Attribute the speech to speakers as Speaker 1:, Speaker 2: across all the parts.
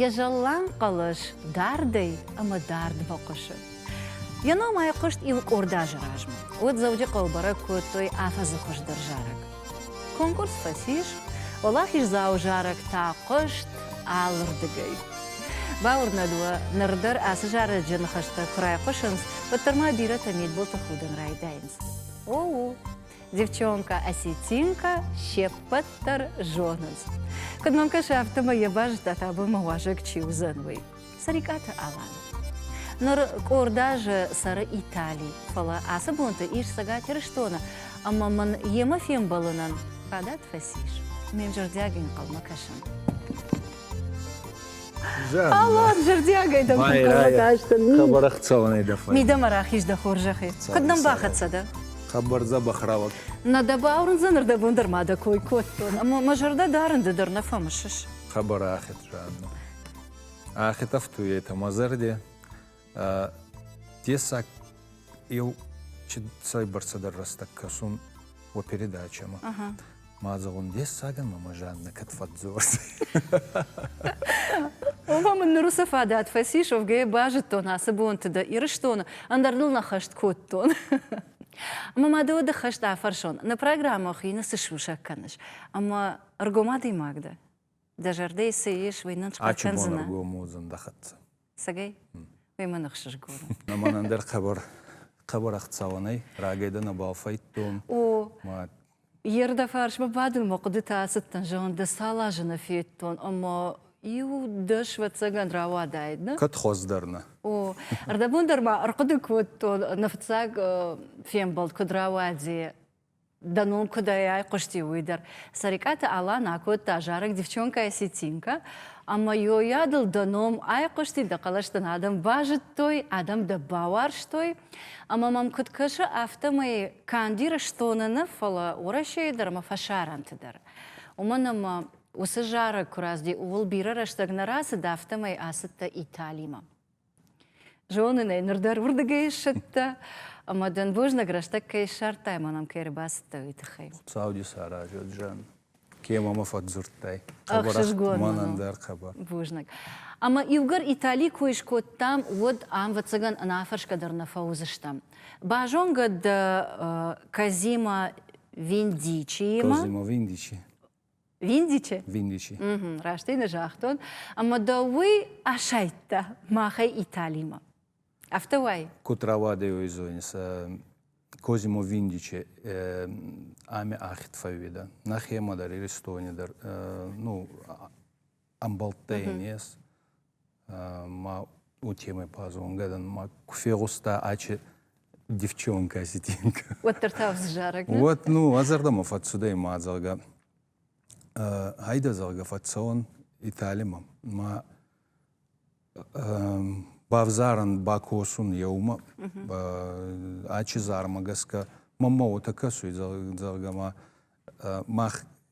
Speaker 1: Йӕ зӕлланг хъӕлӕс дардӕй ӕмӕ дард бахъуысы. Йӕ ном айхъуыст иукъорд азы размӕ, уӕд Дзӕуджыхъӕуы бӕрӕг кодтой афӕдзы хуыздӕр зарӕг. Конкурс фӕцис, уӕлахиздзауы зарӕг та хъуыст алырдыгӕй. Бауырнӕд уӕ, ныр дӕр ацы зарӕджы ныхӕстӕ куы райхъуысынц, уӕддӕр ма бирӕтӕ мидбылты худын райдайынц. О-у! Девчонка осетинка сеппӕт дӕр зонынц. Куыд мӕм кӕсы, афтӕмӕй йӕ базыдтат абонмӕ уазӕг чи уыдзӕн, уый. Сарикаты Алан. Ныр къорд азы цӕры Итали, фӕлӕ ацы бонты ис Цӕгат Ирыстоны, ӕмӕ мын йемӕ фембӕлынӕн фадат фӕцис. Ме нзӕрдиаг инхъӕлмӕ кӕсын. Алло, зӕрдиагӕй дӕм Хабарах цӕуӕнӕй дӕ
Speaker 2: фӕй. Мидӕмӕ рахиз дӕ
Speaker 1: хорзӕхӕй. Куд нӕм бахӕццӕ дӕ? Хабар дзӕбӕх
Speaker 2: рауад. Нӕ дӕ баурундзӕн,
Speaker 1: рдӕбон дӕр ма дӕ кой кодтон. Ӕма мӕ зӕрдӕ дарын ды дӕр нӕ фӕмысыс. Хабар ӕхе
Speaker 2: раӕдно. Ӕхе тафтуй етӕ мӕ зӕрде. дессаг еу ci цӕйбӕрцӕдӕр рӕстӕг кӕсун уӕ передачӕмӕ. Мадзӕгъун дессаг ӕма мӕ Жаннӕ кӕд фӕдздзордзӕй.
Speaker 1: Оба мын ныр уыцы фадат фӕцис, уӕвгӕ базыдтон ацы бонты дӕ Ирыстоны, ӕндӕр дыл нӕ хӕст кодтон. Ӕмӕ ма дӕ уӕды хӕст афӕрсон, нӕ программӕ хины цы сусӕг кӕныс? Ӕмӕ ӕргом адӕймаг дӕ? дӕ зӕрдӕйы цы ис, уый нын скъӕфкӕндзынӕ. уыдзӕн дӕ
Speaker 2: хӕццӕ. Цӕгӕй?
Speaker 1: Уый мӕн ӕхсызгон у. Ӕмӕ мӕн ӕндӕр хъӕбӕр
Speaker 2: хъӕбӕр ӕхцауӕн ӕй рагӕй дӕр нӕ бафӕйдтон. О,
Speaker 1: йе рдӕ фарсмӕ бадын мӕ хъуыдытӕ ацыдтӕн, зӕгъын, дӕ цал азы нӕ федтон, ӕмӕ иу дӕс вӕццӕгӕн рауадаид, нӕ? Кӕд хуӕздӕр нӕ?
Speaker 2: О,
Speaker 1: ӕрдӕбон дӕр ма ӕрхъуыды кодтон, нӕ фыццаг фембӕлд куыд рауадзи, Дӕ ном куыдӕй айхъуысти, уый дӕр. Сӕрикъаты Алан акодта зарӕг Девчонкая сетинка, ӕмӕ йойадыл дӕ ном айхъуысти, дӕ хъӕлӕс дын адӕм базыдтой, адӕм дӕ бауарзтой. Ӕмӕ мӕм куыд кӕсы, афтӕмӕй канд Ирыстоны нӕ, фӕлӕ Уӕрӕсейы дӕр ӕмӕ фӕсарӕнты дӕр. Уымӕн ӕмӕ уыцы зарӕг куы рацыди, ууыл бирӕ рӕстӕг нӕ рацыд, афтӕмӕй ацыдтӕ Италимӕ. Зонын ӕй, ныр дӕр уырдыгӕй ссыдтӕ, ӕмӕ дын бузныг рӕстӕг кӕй ссардтай, мӕ нӕм кӕй ӕрбацыдтӕ, уый тыххӕй. Хуыцау дӕ саразӕд,
Speaker 2: Жан. Кемӕ мӕ фӕдзырдтай? Ӕхсызгон мӕн
Speaker 1: ӕндӕр хабар.
Speaker 2: Бузныг.
Speaker 1: Ӕмӕ иугӕр Итали кой скодтам, уӕд ам, вӕццӕгӕн, ӕнӕафӕрсгӕ дӕр нӕ фӕуыдзыстӕм. Базонгӕ дӕ Козимо Виндичиимӕ? Козимо Виндичи.
Speaker 2: Виндичи?
Speaker 1: Виндичи. Угу,
Speaker 2: раст ин загътон.
Speaker 1: Ӕма дӕ уый асайдта махӕй Италимӕ. Афтӕ уай? Ку травадеой
Speaker 2: зойнса Козимо Виндиче ами ахид фӕууида. Нахема дӕр, Иристони дӕр, ну, ӕмбӕлттӕй нес ма у темӕ пазонгӕ дӕн ма куы фегъуста ачи девчонка осетинка уӕддӕр та вззарӕг
Speaker 1: уӕд ну а зӕрдӕмӕ
Speaker 2: фӕцудӕй ма зӕгъгӕ хайдӕ зӕгъгӕ фӕцӕуӕн италимӕ ма бавзарӕн бакосун еумӕ ачи зармӕ гӕсгӕ мӕммӕ уотӕ кӕсуй зӕгъгӕ ма мах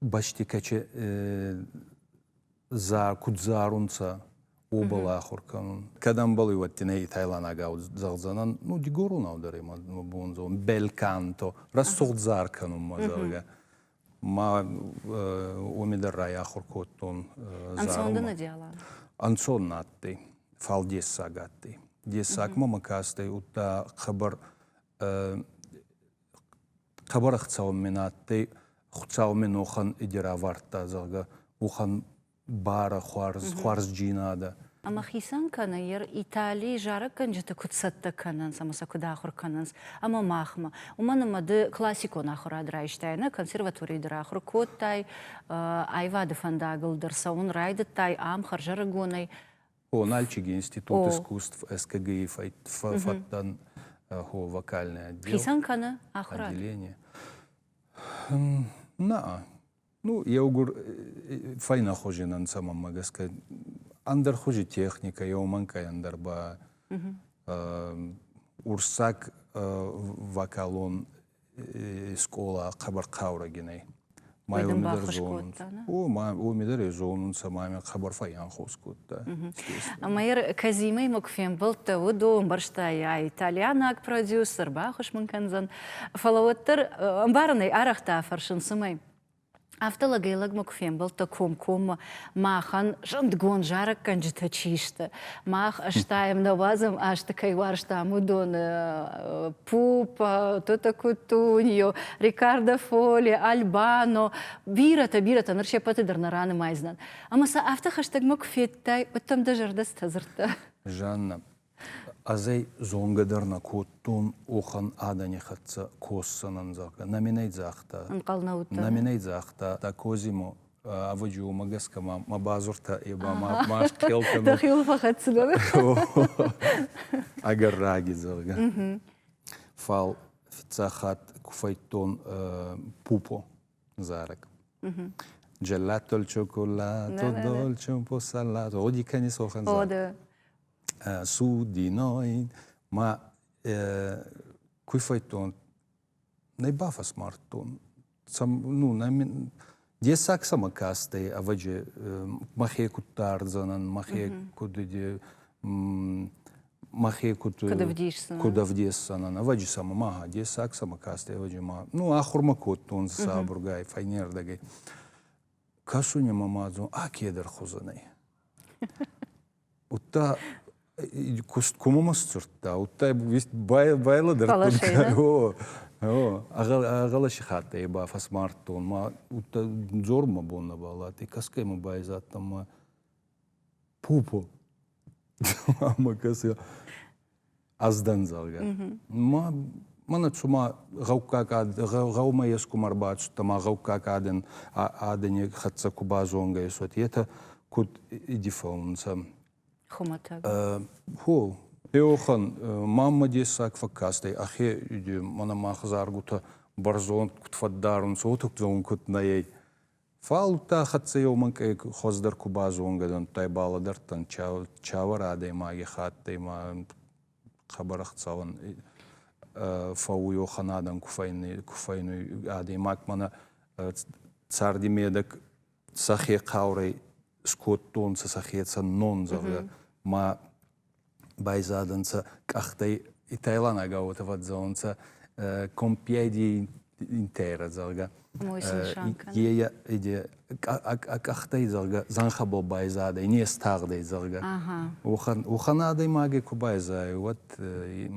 Speaker 2: бӕстикачи куд зарунцӕ, уобӕл ахур кӕнун. Кӕдӕмбали уӕдтинӕй итайланагау зӕгъдзӕнӕн, ну, дигоронау дӕр ма бонзон, бельканто, рӕсугъд зар кӕнун ма, зӕгъгӕ. Ма уоми дӕр райахур кодтон зарунмӕ.
Speaker 1: Ӕнцон на
Speaker 2: адтӕй, фал дессаг адтӕй. Дессаг мӕмӕ ка адтӕй, удта хъӕбӕр Табарах цаумме на адтӕй, Хуцаумме нохӕн иде равардта, зӕгъгӕ, уӕхӕн барӕ хуарз, хуарзджийнадӕ. Ӕма хицӕн
Speaker 1: кӕнӕ, ер Италийы зарӕггӕнджыты куыд цӕттӕ кӕнынц ӕмӕ сӕ куыд ахуыр кӕнынц ӕмӕ махмӕ, уымӕн ӕмӕ ды классикон ахуырад райстай, нӕ консерваторийы дӕр ахуыр кодтай, аивады фӕндагыл дӕр цӕуын райдыдтай ам хӕрзӕрыгонӕй. Оналчиги
Speaker 2: институт искусств СКГИ фӕддан хо вокальный отдел. Хицӕн кӕны ахуырад?
Speaker 1: Отделение.
Speaker 2: Наа. Ну, еугур фӕйнахузин ӕнцӕ, мӕмӕ гӕсгӕ, ӕндӕр хузи техника, еумӕнкъай ӕндӕр ба урссаг вокалон скъола хъӕбӕр хъаурӕгинӕй. Уоми дӕр зонунцӕ мамӕ хъӕбӕр файанхос кодта. Ӕма ер
Speaker 1: Казимӕй ма куы фембылдта, уыдо ӕмбӕрстайа италианаг продюсер, бахус мын кӕндзӕн. Фӕлӕ уӕддӕр ӕмбарынӕй арӕхтӕ фӕрсын, цымӕ Афтӕ лӕгӕй-лӕгмӕ куы фембӕлдтӕ комкоммӕ, махӕн зындгонд зарӕггӕнджытӕ чи сты, мах стаем, нӕ уадзӕм азты кӕй уарзтам, уыдоны Пуп, Тута Кутуньо, Рикардо Фоли, Альбано. Бирӕтӕ-бирӕтӕ ныр се ппӕты дӕр нӕ ранымайдзынӕн. Ӕмӕ сӕ афтӕ хӕстӕгмӕ куы федтай, уӕд дӕм дӕ зӕрдӕ цытӕ дзырдта? Жаннӕ,
Speaker 2: Ӕз ӕй зонгӕ дӕр нӕ кодтон, охӕн адӕни хӕццӕ косдзӕнӕн, зӕгъгӕ. Нӕ мин ӕй загъта. Ӕнхъӕл нӕ удта? Нӕ мин ӕй загъта, да Козимо, ӕвӕджи уомӕ гӕсгӕ ма мӕ бадзуртӕ е ба ма ма схъел кӕнӕ. Дӕхил фӕхӕццӕгӕн. Ӕгӕр раги, зӕгъгӕ. Фал фиццаг хатт ку фӕйдтон пупо зарӕг. Gelato il cioccolatto, dolce un po' salato. О, дикани сохан зарӕг. О, да. судиной ма куй фӕдтон нӕ бафӕсмардтон ну дессаг сӕмӕ кастӕй ӕвӕджи мӕхе кудта ардзӕнӕн мӕхе куд мӕхе куд ӕвдесдзӕнӕн ӕвӕджи сӕмӕ ма дессаг сӕмӕ кастӕй ӕвӕджи ма ну ахурмӕ кодтонцӕ сабургай фӕйнердӕгӕй кӕсуни мӕ ма дзон а кедӕр хузӕнӕй Уыдта куыст коммӕ сдзырдта, уыдта байлӕдӕр ӕгъӕлӕсихаттӕй ба фӕсмардтон ма дзор мӕ бон нӕ баладти, кӕсгӕй мӕ байзадтан ма пупа ӕмӕ кӕс ӕз дӕн, зӕгъгӕ. Ма мӕнӕ цума гъӕуккаг ад, гъӕумӕ ескум ӕрбацудта ма гъӕуккаг адӕн адӕни хӕццӕ ку базонгӕ есот, етӕ куд иди фӕунцӕ. Хумӕтӕг? Хо, еохӕн маммӕ дессаг фӕккастӕй, ӕхе мӕнӕ мах заргутӕ бӕрзонд куд фӕддарунцӕ, уотӕ зон куд нӕ ӕй. Фал удта хӕццӕ еумӕнкъей хуӕздӕр ку базонгӕ дӕнттӕй балӕдӕрдтан чавӕр адӕймаги хаттӕй ма хъӕбӕр ӕхцӕуӕн фӕууй, уохӕнадӕн ку фӕйнуй адӕймаг. Мӕнӕ царди медӕг сӕхе хъаурӕй скодтонцӕ, сӕхецӕн нон, зӕгъгӕ, ма Байзадӕнцӕ къӕхтӕй итайланаг гъӕутӕ фӕдздзӕунцӕ Компьедийи Интера, зӕгъгӕ. Е а къӕхтӕй, зӕгъгӕ, зӕнхӕ бо байзадӕй, не стагъдӕй, зӕгъгӕ. Уӕхӕн адӕймаги ку байзайай, уӕд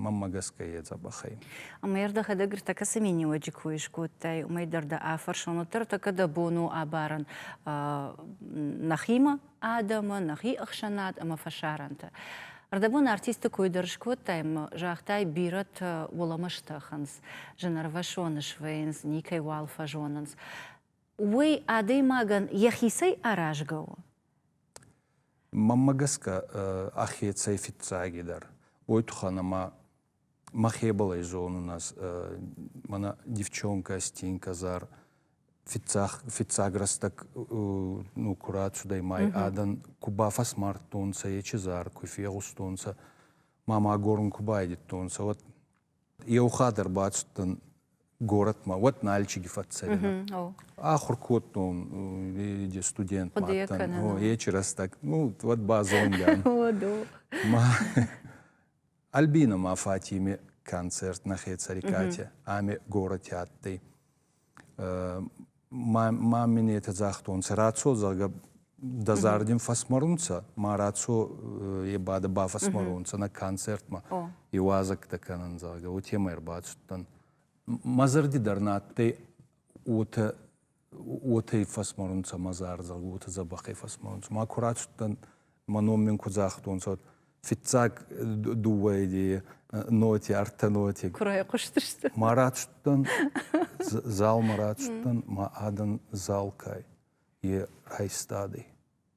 Speaker 2: мӕммӕ гӕсгӕ е дзӕбӕхӕй. Ӕма е рдӕхӕдӕг
Speaker 1: ӕртӕкӕ цӕми ниуӕджи ку искодтай, уымӕй дӕр дӕ афӕрсон, уӕддӕр ӕртӕкӕ дӕ бон у абарӕн нӕхимӕ, адӕмы, нӕхи ӕхсӕнад ӕмӕ фӕсарӕнты. Ӕрдӕбон артисты кой дӕр скодтай ӕмӕ загътай, бирӕтӕ уӕлӕмӕ стӕхынц, зынӕрвӕсоны суӕйынц, никӕй уал фӕзонынц. Уый адӕймагӕн йӕхицӕй аразгӕ у? Мӕнмӕ
Speaker 2: гӕсгӕ, ӕхецӕй фиццагидӕр, уой туххӕн ӕма Мӕхе бал ӕй зонун ӕз. Мӕнӕ девчонкӕ Стенька зар фиццаг рӕстӕг ну ку рацудӕй май адӕн, ку бафӕсмардтонцӕ ечи зар, ку фегъустонцӕ, ма ма горун ку байдӕдтонцӕ, уӕд еу хатт ӕрбацудтӕн горӕтмӕ, уӕд Налчиги фӕццӕгӕнӕн. Ахур кодтон де студент мадтӕн ечи рӕстӕг, ну уӕд ба зонгӕ ан. Альбино ма фатими концерт нӕхецӕри кате ами гороти адтӕй. Маминетӕ загътонцӕ, рацо, зӕгъгӕ, дӕ зардин фӕсмӕрунцӕ, ма рацо е бадӕ бафӕсмӕрунцӕ нӕ концертмӕ, иуазӕгтӕ кӕнӕн, зӕгъгӕ, уотемӕй ӕрбацудтӕн. Мӕ зӕрди дӕр нӕ адтӕй уотӕ уотӕ фӕсморунцӕ мӕ зӕрдӕ, уотӕ дзӕбӕхӕй фӕсморунцӕ. Ма ку рацудтӕн, мӕ ном мин ку загътонцӕ, уӕд фиццаг дууӕ идейи ноти, ӕртӕ ноти. Ку райхъустыстӕ?
Speaker 1: Ма рацудтӕн,
Speaker 2: залмӕ рацудтӕн, ма адӕн зал ка е, е райстадӕй.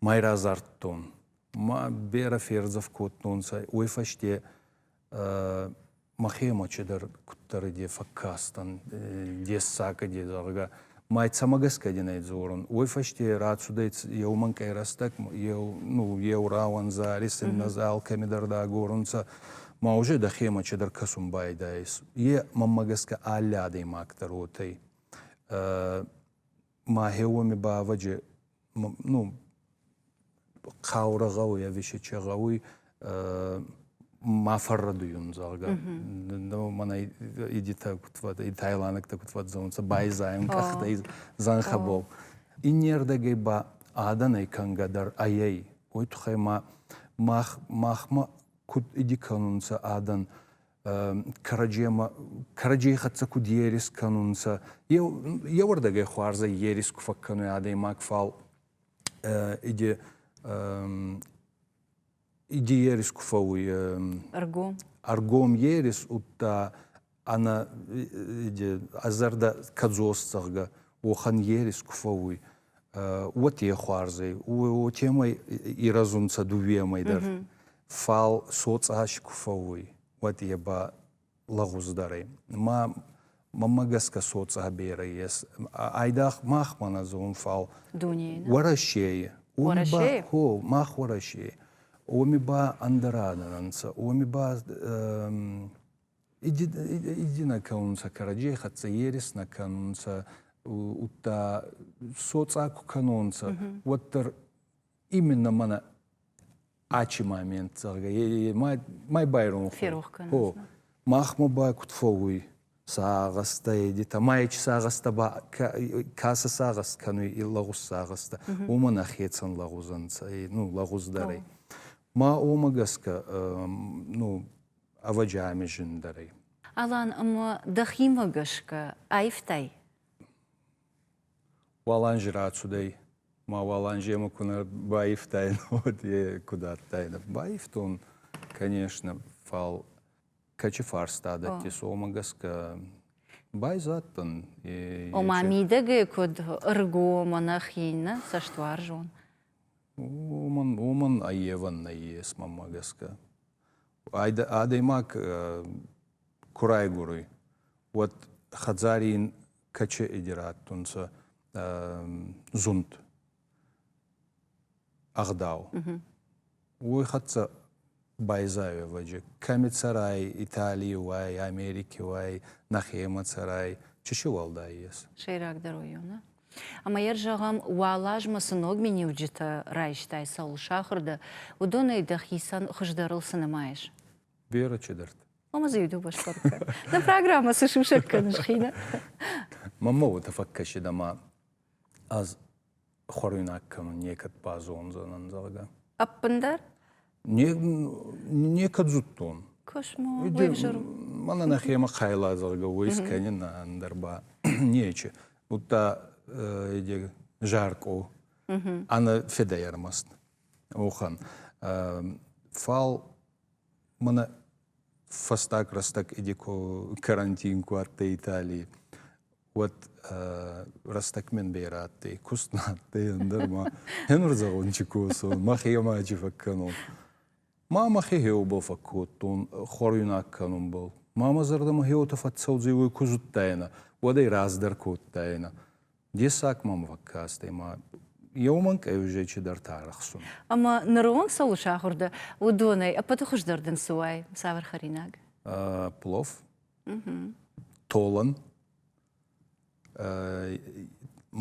Speaker 2: мӕй радзардтон. Ма берӕ фердзӕф кодтонцӕ, уой фӕсте мӕхемӕ чидӕр куддӕр де фӕккастӕн, дессаг де, зӕгъгӕ. Мӕ цӕмӕ гӕсгӕ дин ӕй дзорун? Уой фӕсте рацудӕй еу мӕнкъӕй рӕстӕг, еу, ну, еу рауӕндзӕ, рессиннӕ алкӕмидӕр дӕ агорунцӕ, ма уже дӕхемӕ чидӕр кӕсун байдайис. Е, мӕнмӕ гӕсгӕ, алли адӕймаг дӕр уотӕй. Мӕхеуоми ба ӕвӕджи ну, хъаурӕ гъӕуй ӕви си чи гъӕуй, ма фӕррӕдуйун, зӕгъгӕ. Мӕнӕ идитӕ куд фӕдзӕнцӕ, тайландӕгтӕ куд фӕдзӕнцӕ, байзайун къӕхтӕй зӕнхӕ бон. Иннердӕгӕй ба адӕнӕй кӕнгӕ дӕр айӕй. Уой туххӕй ма махмӕ куд иди кӕнунцӕ адӕн, кӕрӕдземӕ кӕрӕдзей хӕццӕ куд ерис кӕнунцӕ, еуӕрдӕгӕй хуарзӕй ерис ку фӕккӕнуй адӕймаг, фал иди иди ерис ку фӕууй. Ӕргом? Ӕргом ерис удта ӕнӕ ӕ зӕрдӕ кӕдзос, зӕгъгӕ, уохӕн ерис ку фӕууй. уотӕ хуарзӕй, уотемӕй ирӕзунцӕ дууемӕй дӕр. Фал соцъас ку фӕууй, уӕд е ба лӕгъуздӕрӕй. Ма мӕмӕ гӕсгӕ соцъа берӕ ес. Айдагъ мах мӕнӕ зон, фал Уӕрӕсейи. Уӕрӕсейи? Хо, мах Уӕрӕсейи. Уоми ба ӕндӕра дӕр ӕнцӕ. Уоми ба Иди нӕ кӕнунцӕ кӕрӕдзей хӕццӕ, ерес нӕ кӕнунцӕ, удта соцъа ку кӕнонцӕ, уӕддӕр именно мӕнӕ ачи момент, зӕгъгӕ, май байрон хо.
Speaker 1: Махмӕ ба
Speaker 2: куд фӕууй сагъӕстӕ едетӕ, ма ечи сагъӕстӕ ба кӕсӕ сагъӕст кӕнуй лӕгъуз сагъӕстӕ, уомӕн ӕхецӕн лӕгъузӕнцӕ, ну, лӕгъуздӕрӕй. Ма уомӕ гӕсгӕ ну, ӕвӕджиамӕ зындӕрӕй. Алан, ӕмӕ
Speaker 1: дӕхимӕ гӕсгӕ аивтай?
Speaker 2: Уаланжы рацудӕй. Ма Уаланжемӕ куы нӕ баивтаин, уӕд йе куыд адтаин? Баивтон, конечно, фал кӕчи фарста дӕтти, цомӕ гӕсгӕ байзадтӕн. Ома
Speaker 1: мидӕгӕй куд ӕргомӕ нӕхи иннӕ цӕстуарзон? Уомӕн,
Speaker 2: уомӕн ӕййевӕн нӕййес, мӕмӕ гӕсгӕ. адӕймаг ку райгуруй, уӕд хӕдзари ин каче идирадтунцӕ зунд, ӕгъдау. Уой хӕццӕ байзайуевӕджи кӕми цӕрай Италий уай, Америки уай, нӕхемӕ цӕрай, чи си уӕлдай ес? Сӕйрагдӕр уоййонӕ.
Speaker 1: Ӕмӕ йӕ зӕгъӕм, уӕлазмӕ цы ног миниуджытӕ райстай цӕуыл сахуыр дӕ, уыдонӕй дӕхицӕн хуыздӕрыл цы нымайыс? Вера Чедарт.
Speaker 2: Омӕ дзы иу-дыу баскъуыд
Speaker 1: кӕн. Дӕ программӕ цы сусӕг кӕныс хинӕ? Мамма
Speaker 2: уотӕ фӕккӕсид ӕма ӕз хуӕруйнаг кӕнун, некӕд базондзӕнӕн, зӕгъгӕ. Ӕппындӕр? некӕд зудтон. Космо,
Speaker 1: Мӕнӕ нӕхемӕ
Speaker 2: хайлазаргӕ уой скӕнин ӕндӕр ба нечи. Будта жаркъо ӕнӕ федӕй ӕрмаст. Охан. Фал мӕнӕ фӕстаг рӕстӕг иди карантин куы адтӕй Италии. уӕд рӕстӕгмӕн бейрӕ адтӕй, куст нӕ адтӕй, ӕндӕр ма ӕнурдзагончи косун, мӕхе ӕмаджи фӕккӕнун. Ма мӕхе хеубӕл фӕккодтон, хуӕруйнаг кӕнунбӕл. Ма мӕ зӕрдӕмӕ хеуотӕ фӕццӕудзӕй, ку зудтайнӕ, уӕд ӕй раздӕр кодтайнӕ. Дессаг мӕм фӕккастӕй, ма еумӕн къеузӕйчи дӕр тарӕхсун. Ӕма нӕрон
Speaker 1: цӕуыл сахур дӕ, уыдонӕй ӕппӕты хуыздӕр дын цы уай, цавӕр хӕринаг? Плов.
Speaker 2: Толын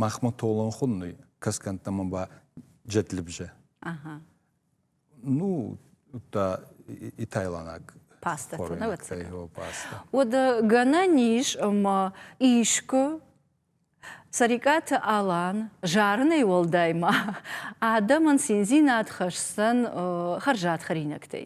Speaker 2: махмӕ толын хуынный кӕсгӕнттӕмӕ ба джетлибже.
Speaker 1: Ну,
Speaker 2: та итайланаг паста
Speaker 1: Уӕд
Speaker 2: гӕнӕн
Speaker 1: ис ӕмӕ искуы Сарикъаты Алан зарынӕй уӕлдай ма адӕмӕн циндзинад хӕсдзӕн хӕрзад хӕринӕгтӕй.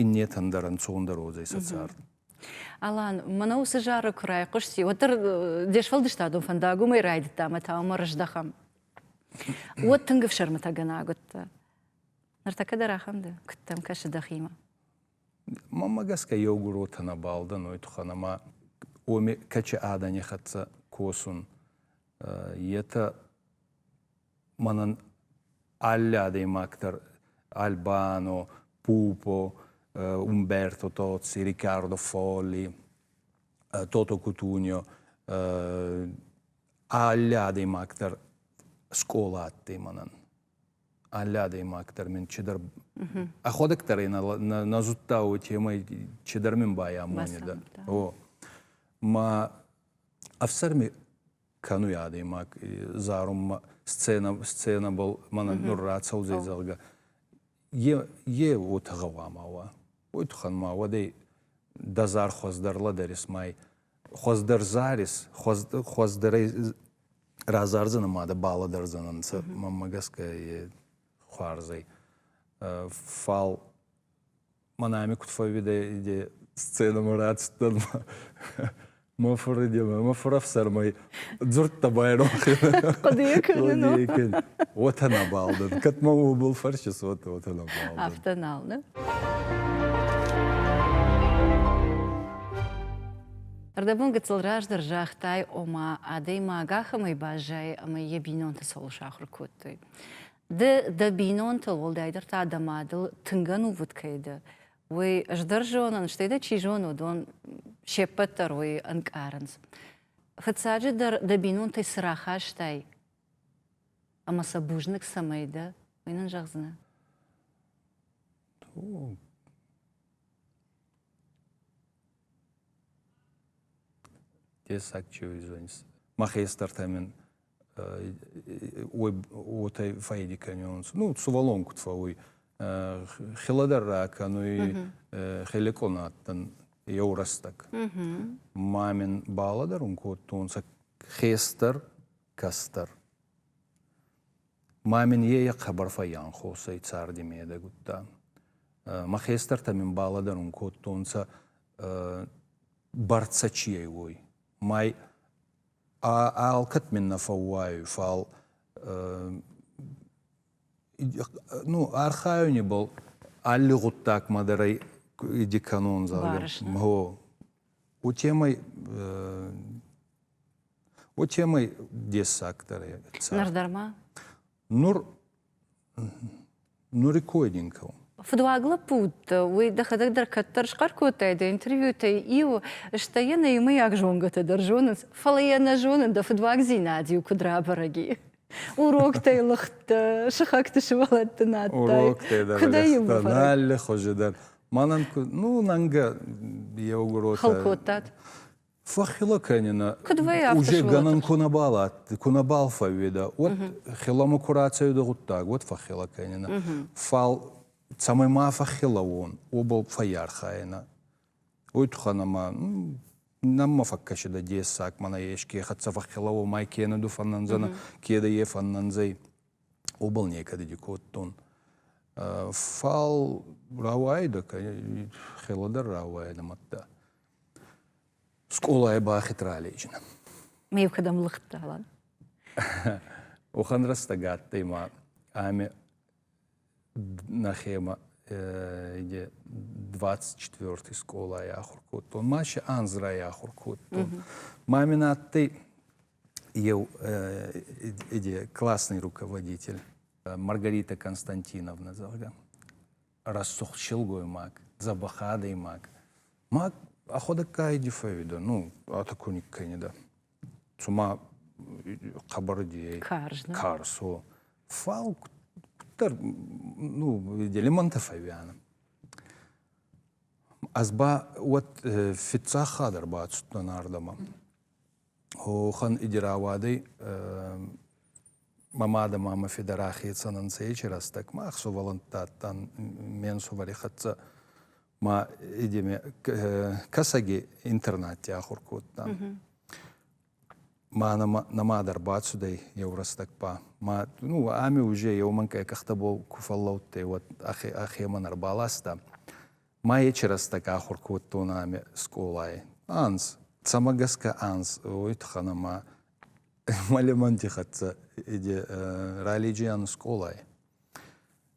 Speaker 2: иннетӕн дӕр ӕнцондӕр уодзӕй сӕ цард. Алан,
Speaker 1: мӕнӕ уыцы зары куы райхъуысти, уӕддӕр де сфӕлдыстадон фӕндаг уымӕй райдыдта ӕмӕ та уымӕ рыздӕхӕм. Уӕд тынг ӕфсӕрмытӕгӕнаг уыдтӕ. Ныртӕккӕ дӕр ахӕм дӕ? Куыдтӕм кӕсы дӕхимӕ?
Speaker 2: Мӕнмӕ гӕсгӕ еугуротӕ нӕ балдӕн уой туххӕн, ӕма уоми кӕчи адӕни хӕццӕ косун, етӕ мӕнӕн алы адӕймаг дӕр альбано пупо умберто тozzi рикардо фолли тото кутунио алы адӕймаг дӕр скъола адтӕй мӕнӕн алы адӕймаг дӕр мин чидӕр ӕхуӕдӕг дӕр нӕ зудта уой темӕй чидӕр мин байамонида о ма ӕфсӕрми кӕнуй адӕймаг зарунмӕ сценӕ, сценӕбӕл мӕнӕ нур рацӕудзӕй, зӕгъгӕ. Е, е уотӕ гъӕуама уа. Уой туххӕн ма уӕдӕй дӕ зар хуӕздӕр лӕдӕрис май. Хуӕздӕр зарис, хуӕздӕрӕй разардзӕнӕ ма дӕ балӕдӕрдзӕнӕнцӕ, мӕнмӕ гӕсгӕ е хуарзӕй. Фал Манами куд фӕууидӕй сценӕмӕ рацудтӕн мӕ фуридемӕ, мӕ фурӕфсӕрмӕй дзурдта байронхи. Хъуыдыйӕ кӕнын.
Speaker 1: Уотӕ нӕбал
Speaker 2: дӕн. Кӕд мӕ уобӕл фӕрсис, уотӕ уотӕ нӕбал дӕн. Афтӕ нал, не?
Speaker 1: Ӕрдӕбон гыццыл раздӕр загътай, ома, адӕймаг ахӕмӕй баззайы, ӕмӕ йӕ бинонтӕ цӕуыл сахуыр кодтой. Ды дӕ бинонтыл, уӕлдайдӕр та дӕ мадыл тынг ӕнувыд кӕй дӕ, уый ӕз дӕр зонын, стӕй дӕ чи зоны, уыдон се ппӕт дӕр уый ӕнкъарынц. Фыццаджы дӕр дӕ бинонтӕй цы рахастай ӕмӕ сӕ бузныг цӕмӕй дӕ, уый нын зӕгъдзынӕ?
Speaker 2: махестӕртӕ мин уотӕ фӕйди кӕнионцӕ ну сувӕллон куд фӕууй хелӕдӕррӕ кӕнуй хелекъон адтӕн еу рӕстӕг ма мин балӕдӕрун кодтонцӕ хестӕр кӕстӕр. Ма мин е хъӕбӕр фӕййанхосӕй царди медӕг удта. Мӕ хестӕртӕ мин балӕдӕрун кодтонцӕ бӕрцӕ чи ӕй, уой. Май алкӕд мин нӕ фӕууайуй, фал ну, архайунибӕл алли гъуддагмӕ дӕр ӕй иди кӕнон, зӕгъгӕ. Барысна. Гъо. у темой o темой дессагдӕр ныр дӕр ма
Speaker 1: нур
Speaker 2: нуры койдингыл Фыдуаг
Speaker 1: лӕппу уыд, уый дӕхӕдӕг дӕр кӕддӕр схъӕр кодтай дӕ интервьютӕй иу, стӕй йӕ нӕ иумӕйаг зонгӕтӕ дӕр зонынц, фӕлӕ йӕ нӕ зонын, дӕ фыдуагдзинад-иу куыд рабӕрӕг и. уроктӕй лыгъдтӕ сыхӕгты сывӕллӕтты надтай куыдӕй
Speaker 2: алы хуызы дӕр мӕнӕн ну нанга еугуротӕ хыл кодтат
Speaker 1: фӕххила
Speaker 2: кӕнина уже
Speaker 1: гӕнӕн ку
Speaker 2: набал адтӕй ку набал фӕууедӕ уӕд хиламӕ ку рацӕуидӕ гъуддаг уӕд фӕххила кӕнина фал цӕмӕй ма фӕххила уон уобӕл фӕййархайина уой туххӕн ӕма Нӕммӕ фӕккӕсидӕ дессаг, мӕнӕ еске хӕццӕ фӕххела уомӕй кенӕ ду фӕннӕнзӕнӕ, кедӕ е фӕннӕнзӕй, уобӕл некӕдеди кодтон. Фал рауаидӕ, хела дӕр рауаидӕ мадта. Скъолайӕ бахид ралейджинӕ. Ме кӕдӕм
Speaker 1: лыгъд ралан?
Speaker 2: Уӕхӕн рӕстӕг адтӕй ма ӕме нӕхемӕ ide 24 скъолайы ахуыр кодтон, масе анзрайы ахуыр кодтон. Мамин адтӕй еу ide классный руководитель Маргарита Константиновна, зӕгъгӕ, рӕсугъд силгоймаг, дзӕбӕх адӕймаг. Ма ӕхуӕдӕгка иди фӕуидӕ, ну, атаку никкӕнидӕ. цума хъӕбӕр дей карсо. Фал куддӕр ну, лимонтӕ фӕууианӕ. Ӕз ба уӕд фиццагхатт ӕрбацудтӕн ардӕмӕ. Уохӕн иди рауадӕй мӕ мадӕ ма мӕ федӕ рахецӕн ӕнцӕ ечи рӕстӕг. Мах сувӕллӕнтти адтан ме нсувӕри хӕццӕ. ма идеме кӕсӕги интернатти ахур кодта. Ма нӕма дӕр бацудӕй еу рӕстӕг ба. Ма ну, ами уже еумӕнкъай къӕхтӕбол ку фӕллӕудтӕй, уӕд ӕхемӕн ӕрбаласта. Ма ечи рӕстӕг ахур кодтонӕ ами скъолай. Анз, цӕмӕ гӕсгӕ анз, уой туххӕн ӕма мӕ лемӕнти хӕццӕ иди ралиджиан скъолай.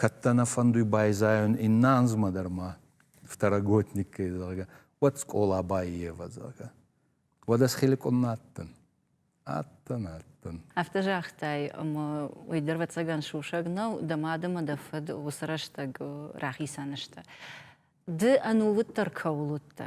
Speaker 2: кӕд дӕ нӕ фӕндуй байзайун иннӕ анзмӕ дӕр ма второгодникӕй, зӕгъгӕ, уӕд скъола баййевӕ, зӕгъгӕ. Уӕдӕ схиликъунмӕ адтӕн. Адтӕн, адтӕн. Афтӕ
Speaker 1: загътай, ӕмӕ уый дӕр ӕвӕццӕгӕн сусӕг нӕу, дӕ мад ӕмӕ дӕ фыд уыцы рӕстӕг рахицӕн сты. Ды ӕнувыддӕр кӕуыл уыдтӕ,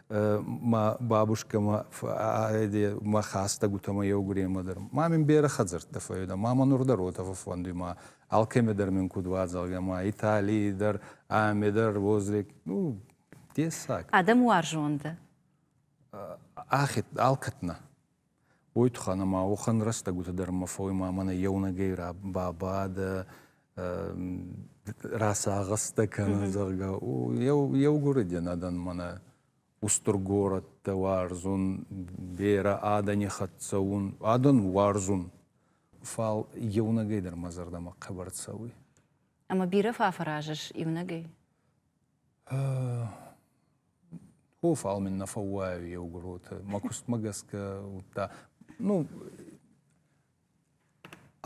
Speaker 2: ма бабушкӕмӕ мӕ хӕстӕгутӕмӕ еугуремӕ дӕр. Ма мин берӕ хӕдзӕрттӕ фӕййуидӕ, ма мӕ нур дӕр уотӕфӕ фӕнди ма алкӕмӕ дӕр мин куд уадзалгӕ, ма Италий дӕр, ӕме дӕр возле ну, дессаг. Адӕм уарзон
Speaker 1: дӕ?
Speaker 2: Ӕхе алкӕднӕ. Уой туххӕн ӕма уӕхӕн рӕстӕгутӕ дӕр мӕ фоймӕ мӕнӕ еунӕгӕй бабадӕ, расагъӕстӕ кӕнӕ, зӕгъгӕ. Еугуреденадӕн мӕнӕ устур горӕттӕ уарзун, берӕ адӕни хӕццӕ ун, адӕн уарзун. Фал еунӕгӕй дӕр мӕ зӕрдӕмӕ хъӕбӕр цӕуй. Ӕма бирӕ
Speaker 1: фӕффӕразыс еунӕгӕй?
Speaker 2: Ко фал мин нӕ фӕууӕй еугуротӕ, мӕ кустмӕ гӕсгӕ, удта. Ну,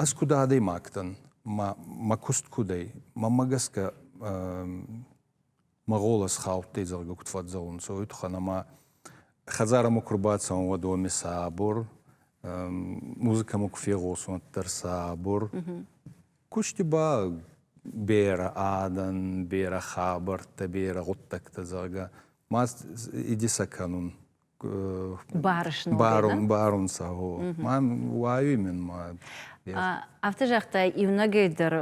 Speaker 2: ӕз куд адӕймагтӕн, мӕ куст куд ӕй, мӕмӕ гӕсгӕ мӕ гъолос хаудтӕй, зӕгъгӕ, куд фӕдзӕунцӕ, уой туххӕн ӕма хӕдзарӕмӕ ку рбацӕун, уӕд уоми сӕ абор, музыкӕмӕ ку фегъосун, уӕддӕр сӕ абор. Кусти ба берӕ адӕн, берӕ хабӕрттӕ, берӕ гъуддӕгтӕ, зӕгъгӕ, ма идисӕ кӕнун. Барун, барун, барун сӕ, гъо. Ма уайуй мин ма. Афтӕ
Speaker 1: загътай, иунӕгӕй дӕр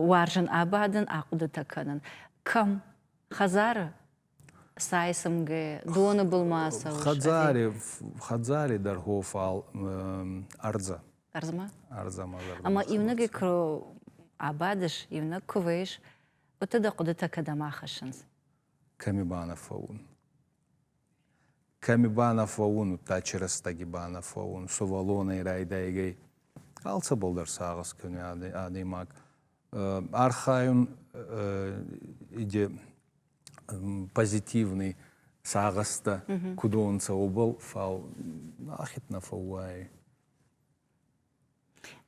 Speaker 1: уарзын абадын, ахъуыдытӕ кӕнын. Кӕм? Хӕдзары? Сайсымгӕ доны былмӕ цӕуыс? Хӕдзари,
Speaker 2: хӕдзари дӕр хо фал ӕрдзӕ. Ӕрдзмӕ?
Speaker 1: Ӕрдзӕмӕ зӕрдӕ.
Speaker 2: Ӕма иунӕгӕй куы
Speaker 1: абадыс, иунӕг куы вӕйыс, уыдты дӕ хъуыдытӕ кӕдӕм ахӕссынц? Кӕми
Speaker 2: банафӕун? Кӕми банафӕун, удта чирӕстӕги банафӕун, сувӕллонӕй райдайгӕй алцӕбӕлдӕр сагъӕс кӕни адӕймаг. Архайун иде позитивный сагъӕстӕ куд уонцӕ, уобӕл, фал ахед нӕ фӕууӕй.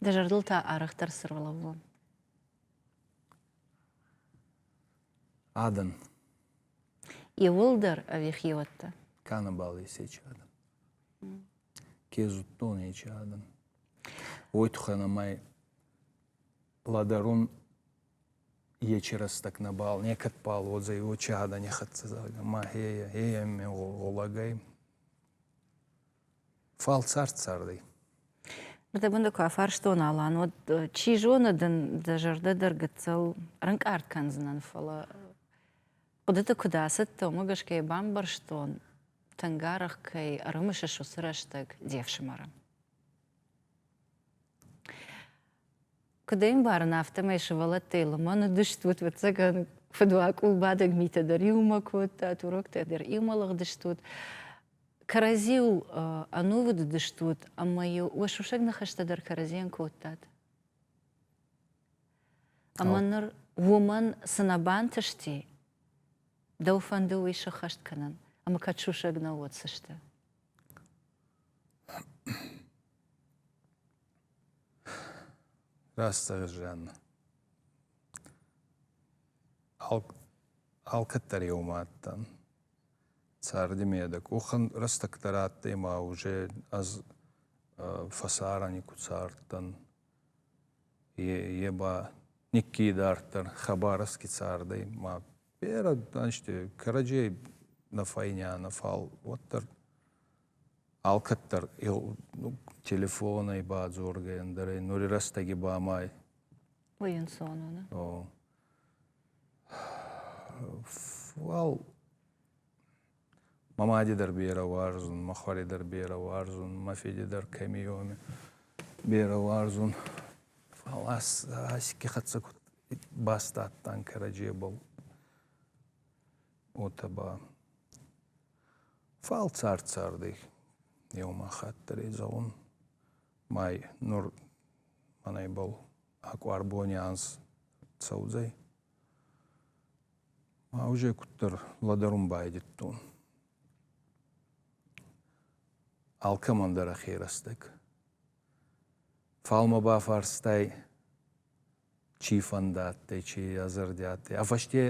Speaker 1: Дӕ зӕрдыл та арӕхдӕр цы рол лӕууон?
Speaker 2: Адӕн.
Speaker 1: Иулдӕр ӕви хиуӕттӕ? Кӕнӕбӕл
Speaker 2: исечи адӕн. Ке зудтон ечи адӕн. Уой туххӕн ӕмӕй Ладарун ечи рӕстӕг нӕбал, некӕдбал уодзӕй учи адӕни хӕццӕ, зӕгъгӕ, ма хея, хея ме гъолагӕй. Фал цард цардӕй.
Speaker 1: Ныртӕккӕ куы афарстон Алан, уӕд чи зоны дын дӕ зӕрдӕ дӕр гыццыл ӕрынкъард кӕндзынӕн, фӕлӕ хъуыдыты куыд ацыдтӕ, уымӕ гӕсгӕ йӕ бамбӕрстон, тынг арӕх кӕй ӕрымысыс уыцы рӕстӕг де фсымӕры. Куыд ӕмбарын, афтӕмӕй сывӕллӕттӕй лымӕн уыдыстут, ӕвӕццӕгӕн, фыдуакъулбадӕг митӕ дӕр иумӕ кодтат, уроктӕ дӕр иумӕ лыгъдыстут. Кӕрӕдзиу ӕнувыд уыдыстут, ӕмӕ-иу уӕ сусӕг ныхӕстӕ дӕр кӕрӕдзийӕн кодтат. Ӕмӕ ныр уымӕн цы нӕ бантысти, дӕу фӕнды уый сыххӕст кӕнын, ӕмӕ кӕд сусӕг нӕ уыд, цы сты?
Speaker 2: Растсовершенно. Алкӕддӕр еумӕ адтӕн. Цардимӕ дӕ къохӕн рӕстӕгтӕ радтӕй ма уже ӕз фӕсарӕн никуд цардтӕн. Е ба никки идарддӕр хабаровски цардӕй ма берӕ ӕнзти кӕрӕдзей нӕ фӕйнӕ, нӕ фал, уӕддӕр Алкӕддӕр телефонӕй бадзоргӕ, ӕндӕрӕй нури рӕстӕги ба ма Уый
Speaker 1: ӕнцон у, нӕ?
Speaker 2: Уал мӕ мади дӕр берӕ уарзун, мӕ хуӕри дӕр берӕ уарзун, мӕ фиди дӕр кӕми уоми берӕ уарзун. Фал ас ке хӕццӕ куд баст адтӕн кӕрӕдзебӕл, уотӕ ба Фал цард-цардӕй еума хатт дӕр зӕгъун май нур мӕнӕй бал акъуарбони анз цӕудзӕй. Ма уже куддӕр лӕдӕрун байдӕдтон. Алкӕмӕн дӕр ӕхе рӕстӕг Фал мӕ бафарстай, чи фӕндӕ адтӕй, чи ӕ зӕрди адтӕй. А фӕсте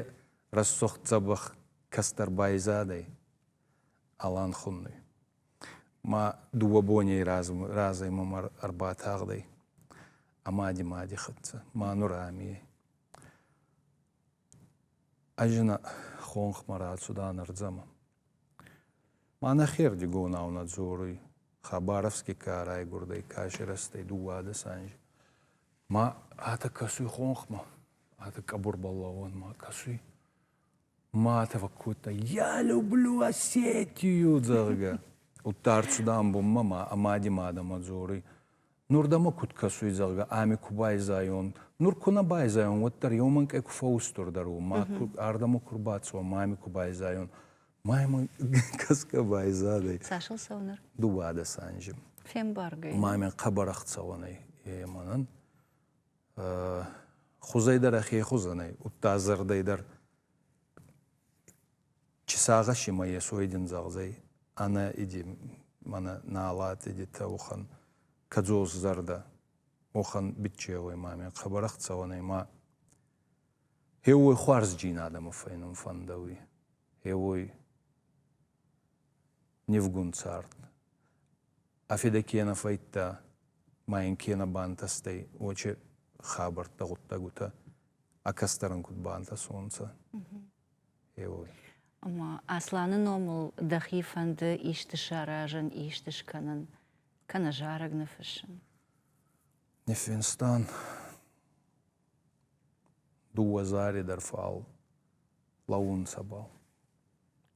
Speaker 2: рӕсугъд дзӕбӕх кӕстӕр байзадӕй Алан хуннуй. Ма дууӕ боней разӕй мӕмӕ ӕрбатагъдӕй ӕ мадимади хӕццӕ, ма нур ами ӕй. Ӕз ин хонхмӕ рацуда нурдзӕмӕн. Ма нӕхердигонау нӕ дзоруй, Хабаровски ка райгурдӕй кӕсирӕстӕй дууадӕс анзи. Ма атӕ кӕсуй хонхмӕ, атӕ къӕбурбӕл лӕуӕнмӕ кӕсуй. Ма атӕ фӕккодта, «Я люблю Осетию!» зӕгъгӕ. Удта ӕрцуда ӕмбунмӕ ма ӕ мади мадӕмӕ дзоруй, Нур дӕмӕ куд кӕсуй, зӕгъгӕ, ами ку байзайон. Нур ку нӕ байзайон, уӕддӕр еумӕнкъӕй ку фӕустурдӕр у, ма ку ардӕмӕ ку рбацӕуа, ма ами ку байзайон. Ма ӕма кӕсгӕ байзадӕй. Цасыл цӕуы
Speaker 1: ныр? Дууадӕс анзи.
Speaker 2: Фембаргӕй.
Speaker 1: Мамӕн хъӕбӕр
Speaker 2: ӕхцӕуӕн ӕй, е мӕнӕн. Хузӕй дӕр ӕхе хузӕн ӕй, удта зӕрдӕй дӕр Чи сагъӕси ма ес, уой дин зӕгъдзӕй, ӕнӕ иди мӕнӕ налати дитӕ, уӕхӕн кӕдзосзӕрдӕ, уӕхӕн биччеуй мамӕ хъӕбӕрӕх цӕуӕнӕй ма еуой хуарзджин адӕмы фӕйнун фӕндӕуй, еуой нивгун цард. ӕ федӕ ке нӕ фӕййидта ма ин ке нӕ бантӕстӕй, уочи хабӕрттӕ, гъуддӕгутӕ ӕ кӕстӕрӕн куд бантӕсонцӕ, еуой. Ӕма
Speaker 1: Асланы номыл дӕхи фӕнды исты саразын, исты скӕнын, кӕнӕ зарӕг ныффыссын? Ниффинстан
Speaker 2: дууӕ зари дӕр фал лӕуунцӕбӕл.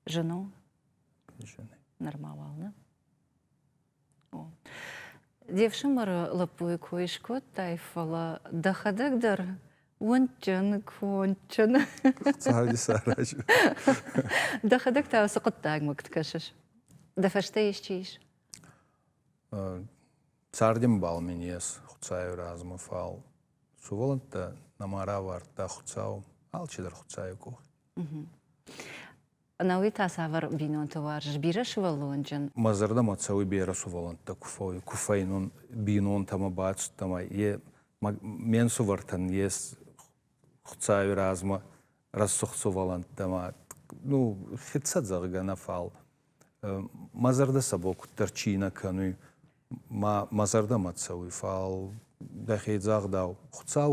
Speaker 1: Жену?
Speaker 2: Жены. Нырма уал, не?
Speaker 1: О. Де фсымӕры лӕппуйы кой скодтай, фӕлӕ дӕхӕдӕг дӕр уынджын, конджын. Дӕхӕдӕг та уыцы хъуыддагмӕ куыд кӕсыс? Дӕ фӕстӕ исчи ис?
Speaker 2: Цардӕмбал мин ес Хуцауи размӕ, фал сувӕллӕнттӕ нӕма равардта Хуцау, алчидӕр Хуцауи къох.
Speaker 1: Науи та цавӕр бинонты уарзыс? Бирӕ сывӕллонджын? Мӕ зӕрдӕмӕ цӕуы
Speaker 2: бирӕ сывӕллӕнттӕ куы фӕуой, куы фӕйнон бинонтӕмӕ бацыдтӕн ӕй, ме нсувӕртӕн йе хцауи размӕ рӕсугъд сывӕллӕнттӕмӕ, ну, хицӕн зӕгъгӕ нӕ фал. Мӕ зӕрдӕ сӕ бон куддӕр чи нӕ кӕнуй, мӕ зӕрдӕмӕ цӕуй, фал дӕхе дзагъдау, Хуцау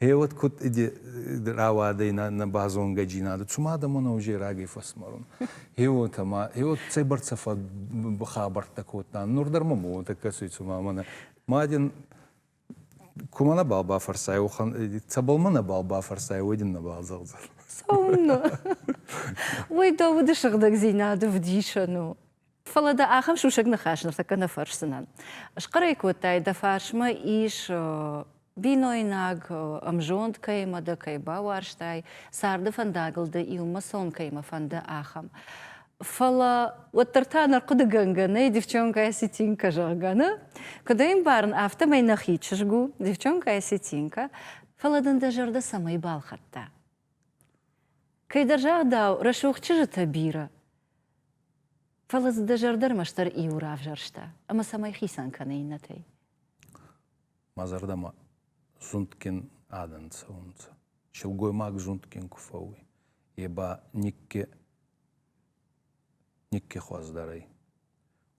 Speaker 2: Е вот куд рауадӕй на базонгӕдзийнадӕ, цума адӕмон ӕвзерӕгӕй фӕсмарун. Е уотӕ ма, е вот цӕйбӕрцӕ хабӕрттӕ кодта, нур дӕр мӕм уотӕ кӕсуй, цума мӕнӕ мадин кумӕ нӕбал бафӕрсай, уохан цӕбӕлмӕ нӕбал бафӕрсай, уой дин нӕбал зӕгъдзӕн. Цӕумӕ?
Speaker 1: Уой дӕ уды сыгъдӕгдзийнадӕ вдисӕн у. Фӕлӕ дӕ ахӕм сусӕг ныхас ныртӕккӕ нӕ фӕрсдзынӕн. Схъӕрӕй кодтай, дӕ фарсмӕ ис бинойнаг, ӕмзонд кӕимӕ дӕ кӕй бауарзтай, царды фӕндагыл дӕ иумӕсон кӕимӕ фӕнды, ахӕм. Фӕлӕ уӕддӕр та ӕнӕрхъуыдыгӕнгӕ нӕй девчонкӕ Осетинка зӕгъгӕны. Куыд ӕй ӕмбарын, афтӕмӕй нӕхи чызг у девчонкӕ Осетинка, фӕлӕ дын дӕ зӕрдӕ цӕмӕй балхӕдта? Кӕйдӕр загъдау, рӕсугъд чызджытӕ бирӕ Фӕлӕ дзы дӕ зӕрдӕ ӕрмӕстдӕр иу равзӕрста, ӕмӕ цӕмӕй хицӕн кӕны иннӕтӕй? Мӕ зӕрдӕмӕ
Speaker 2: зундгин адӕн цӕунцӕ. Силгоймаг зундгин ку фӕууй, е ба никке никке хуӕздӕр ӕй.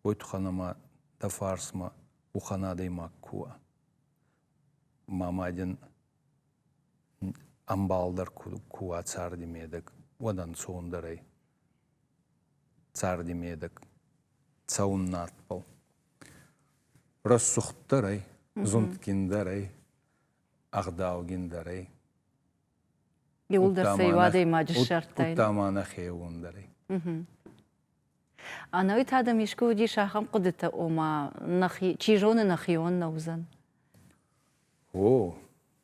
Speaker 2: Уой туххӕн ӕма дӕ фарсмӕ ухӕн адӕймаг ку уа. Ма майдин ӕмбалдӕр ку уа царди медӕг, уӕд ӕнцондӕр ӕй. Царди медӕг, цӕун надбӕл. Рӕсугъддӕр ӕй, зундгиндӕр ӕй, ӕгъдаугиндӕр ӕй.
Speaker 1: Иулдӕр сӕ адӕймаджы ссардтай. Удта ма нӕхеуондӕр
Speaker 2: ӕй.
Speaker 1: Ӕнӕуи адӕм искуы уыдис ахӕм хъуыдытӕ, ома, нӕхи, чи зоны нӕхион нӕ уыдзӕн?
Speaker 2: О,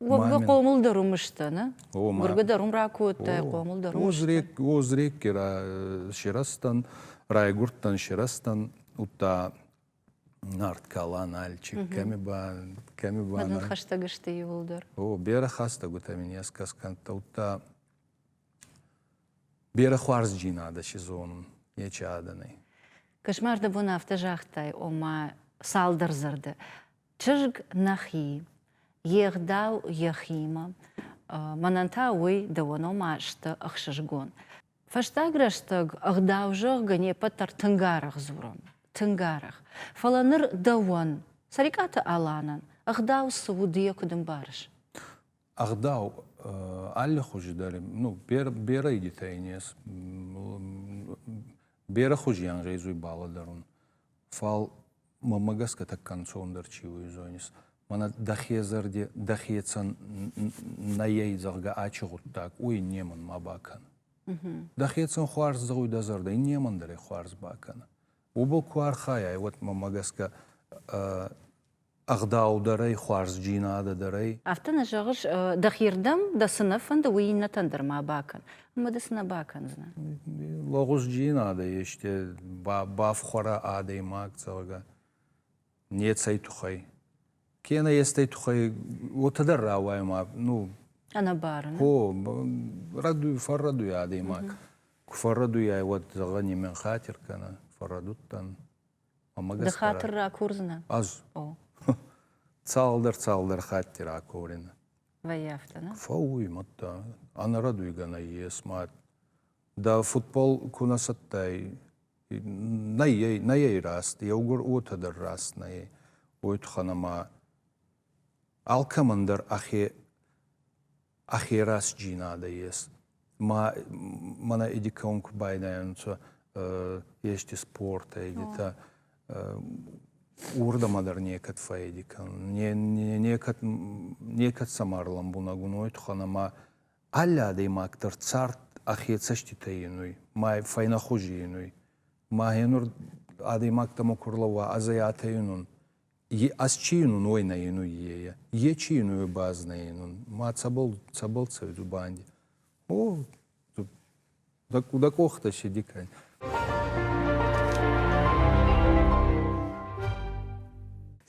Speaker 2: Гургы
Speaker 1: хъомыл дӕр уым сты, не? Гургы дӕр уым ракодтай, хъомыл дӕр уым сты. Озрекке
Speaker 2: сирастан, райгурдтан сирастан, утта Нарт кала Нальчик, кӕми ба... Кӕми ба... Мадын
Speaker 1: хӕстӕг сты иуылдӕр. О, берӕ хӕстӕг
Speaker 2: уотӕ мин ескӕс кӕнтта, утта берӕ хуарзджин адӕ си зонун, нечи адӕнӕй. Кошмар
Speaker 1: дӕ бон афтӕ загътай, ома цалдӕр зӕрдӕ. Чызг нӕхи, йе гъдау йӕхимӕ, мӕнӕн та уый дӕуӕн ома сты ӕхсызгон. Фӕстаг рӕстӕг ӕгъдау зӕгъгӕ не ппӕт дӕр тынг арӕх дзурӕм, тынг арӕх. Фӕлӕ ныр дӕуӕн, Цӕрикъаты Аланӕн, ӕгъдау цы у ды йӕ куыд ӕмбарыс? ӕгъдау
Speaker 2: аллихузи дӕр ну берӕ игитӕ ин ес берӕ хузи ангъезуй балӕдӕрун фал мӕмӕ гӕсгӕ тӕккӕ ӕнцондӕр чи уй зонис мӕнӕ дӕхе зӕрди дӕхецӕн нӕйӕй зӕгъгӕ ачи гъуддаг уй немӕн ма бакӕн дӕхецӕн хуарз зӕгъуй дӕ зӕрдӕ немӕн дӕр хуарз бакӕнӕ уобӕл ку архайай уӕд мӕмӕ гӕсгӕ ӕгъдаудӕрӕй, хуарзджийнадӕдӕрӕй. Афтӕ нӕ зӕгъыс,
Speaker 1: дӕхирдӕм дӕ цы нӕ фӕнды, уый иннӕтӕн дӕр ма бакӕн. Уымӕ ды цы нӕ бакӕндзынӕ? Лӕгъузджийнадӕ
Speaker 2: есте бафхуӕрӕ адӕймаг, зӕгъгӕ, нецӕй туххӕй. Кенӕ естӕй туххӕй уотӕ дӕр рауайӕ ма, ну... Ӕнӕбарӕн.
Speaker 1: Ко,
Speaker 2: рӕдуй, фӕррӕдуй адӕймаг. Ку фӕррӕдуйай, уӕд, зӕгъӕ, нимӕн хатир кӕнӕ. Фӕррӕдудтӕн. Ды хатыр
Speaker 1: ракурдзынӕ? Ӕз. Цалдӕр
Speaker 2: цалдӕр хатти ракурин. Вӕййафтӕ,
Speaker 1: нӕ? Фӕууй, мадта.
Speaker 2: Ӕнӕрӕдуйгӕ нӕййес мад. Дӕ футбол ку нӕ цӕттӕй, нӕййей, нӕййей раст, еугур уотӕ дӕр раст нӕййей, уой туххӕн ӕма алкӕмӕн дӕр ӕхе ӕхерасджийнадӕ ес. Ма мӕнӕ эдикон ку байдайӕнцӕ ести спортӕ, егитӕ, уордӕмӕ дӕр некӕд фӕйди кӕнун. Некӕд, некӕд сӕмӕ ӕрлӕмбунӕг ун уой туххӕн ӕма алли адӕймаг дӕр цард ӕхе цӕститӕ енуй, ма фӕйнӕхузи енуй. Ма гьенур адӕймаг дӕмӕ ку рлӕууа, ӕз ӕй атӕйун ун, Ас чи йын уой нӕ йын уййея, е чи йын уой баз нӕ йын ун, ма цӕбӕл, цӕбӕл цӕуй ду банди? О, дӕ, дӕ къохтӕ седи кӕн.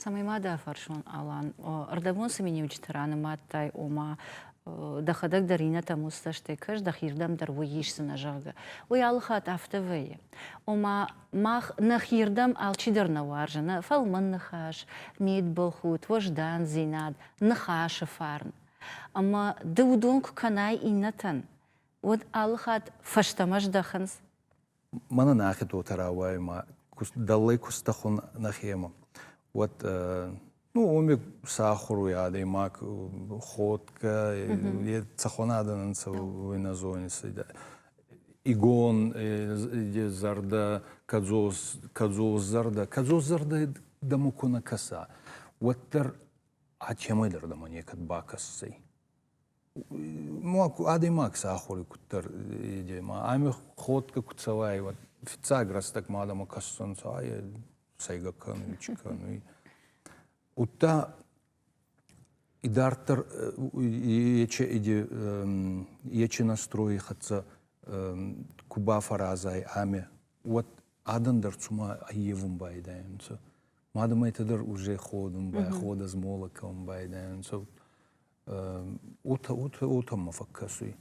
Speaker 1: Цӕмӕй ма дӕ фӕрсон, Алан, ӕрдӕбон цӕми неуджыты ранымадтай, ома дӕхӕдӕг дӕр иннӕтӕм ус цӕстӕй кӕс, дӕхирдӕм дӕр уый исдзынӕ, зӕгъгӕ. Уый алыхатт афтӕ вӕййы. Ома, мах нӕхирдӕм алчидӕр нӕ уарзы нӕ фӕлмӕн ныхас, мидбылхудт, уӕздандзинад, ныхасы фарн. Ӕмӕ ды уыдон куы кӕнай иннӕтӕн, уӕд алыхатт фӕстӕмӕ здӕхынц.
Speaker 2: Мӕнӕ нӕхи доты рауайы ма дӕллӕй куыстӕ хуын нӕхимӕ, уӕд Ну, уми сахуруй адӕймаг ходгӕ, е цӕхуӕнадӕ нӕнцӕ уойнӕ зони цайдӕ. Игон, е зӕрдӕ, кӕдзос, кӕдзос зӕрдӕ. Кӕдзос зӕрдӕ дӕму ку нӕ кӕса, уӕддӕр ӕ темӕй дӕр дӕмӕ некӕд бакӕсдзӕй. ма адӕймаг сӕ ахури куддӕр иде ма ами ходгӕ ку цӕуай уӕд фиццаг рӕстӕгмӕ адӕмӕ кӕссонцӕ айе сӕйгӕ кӕнуй чи кӕнуй удта идарддӕр ече иде ече настрои хӕццӕ ку бафӕразай ами уӕд адӕн дӕр цума аййевун байдайӕнцӕ мадӕмӕйтӕ дӕр уже ходун байходӕ змола кӕун байдайӕнцӕ Уотӕ, уотӕ, уотӕмӕ фӕккӕсуй.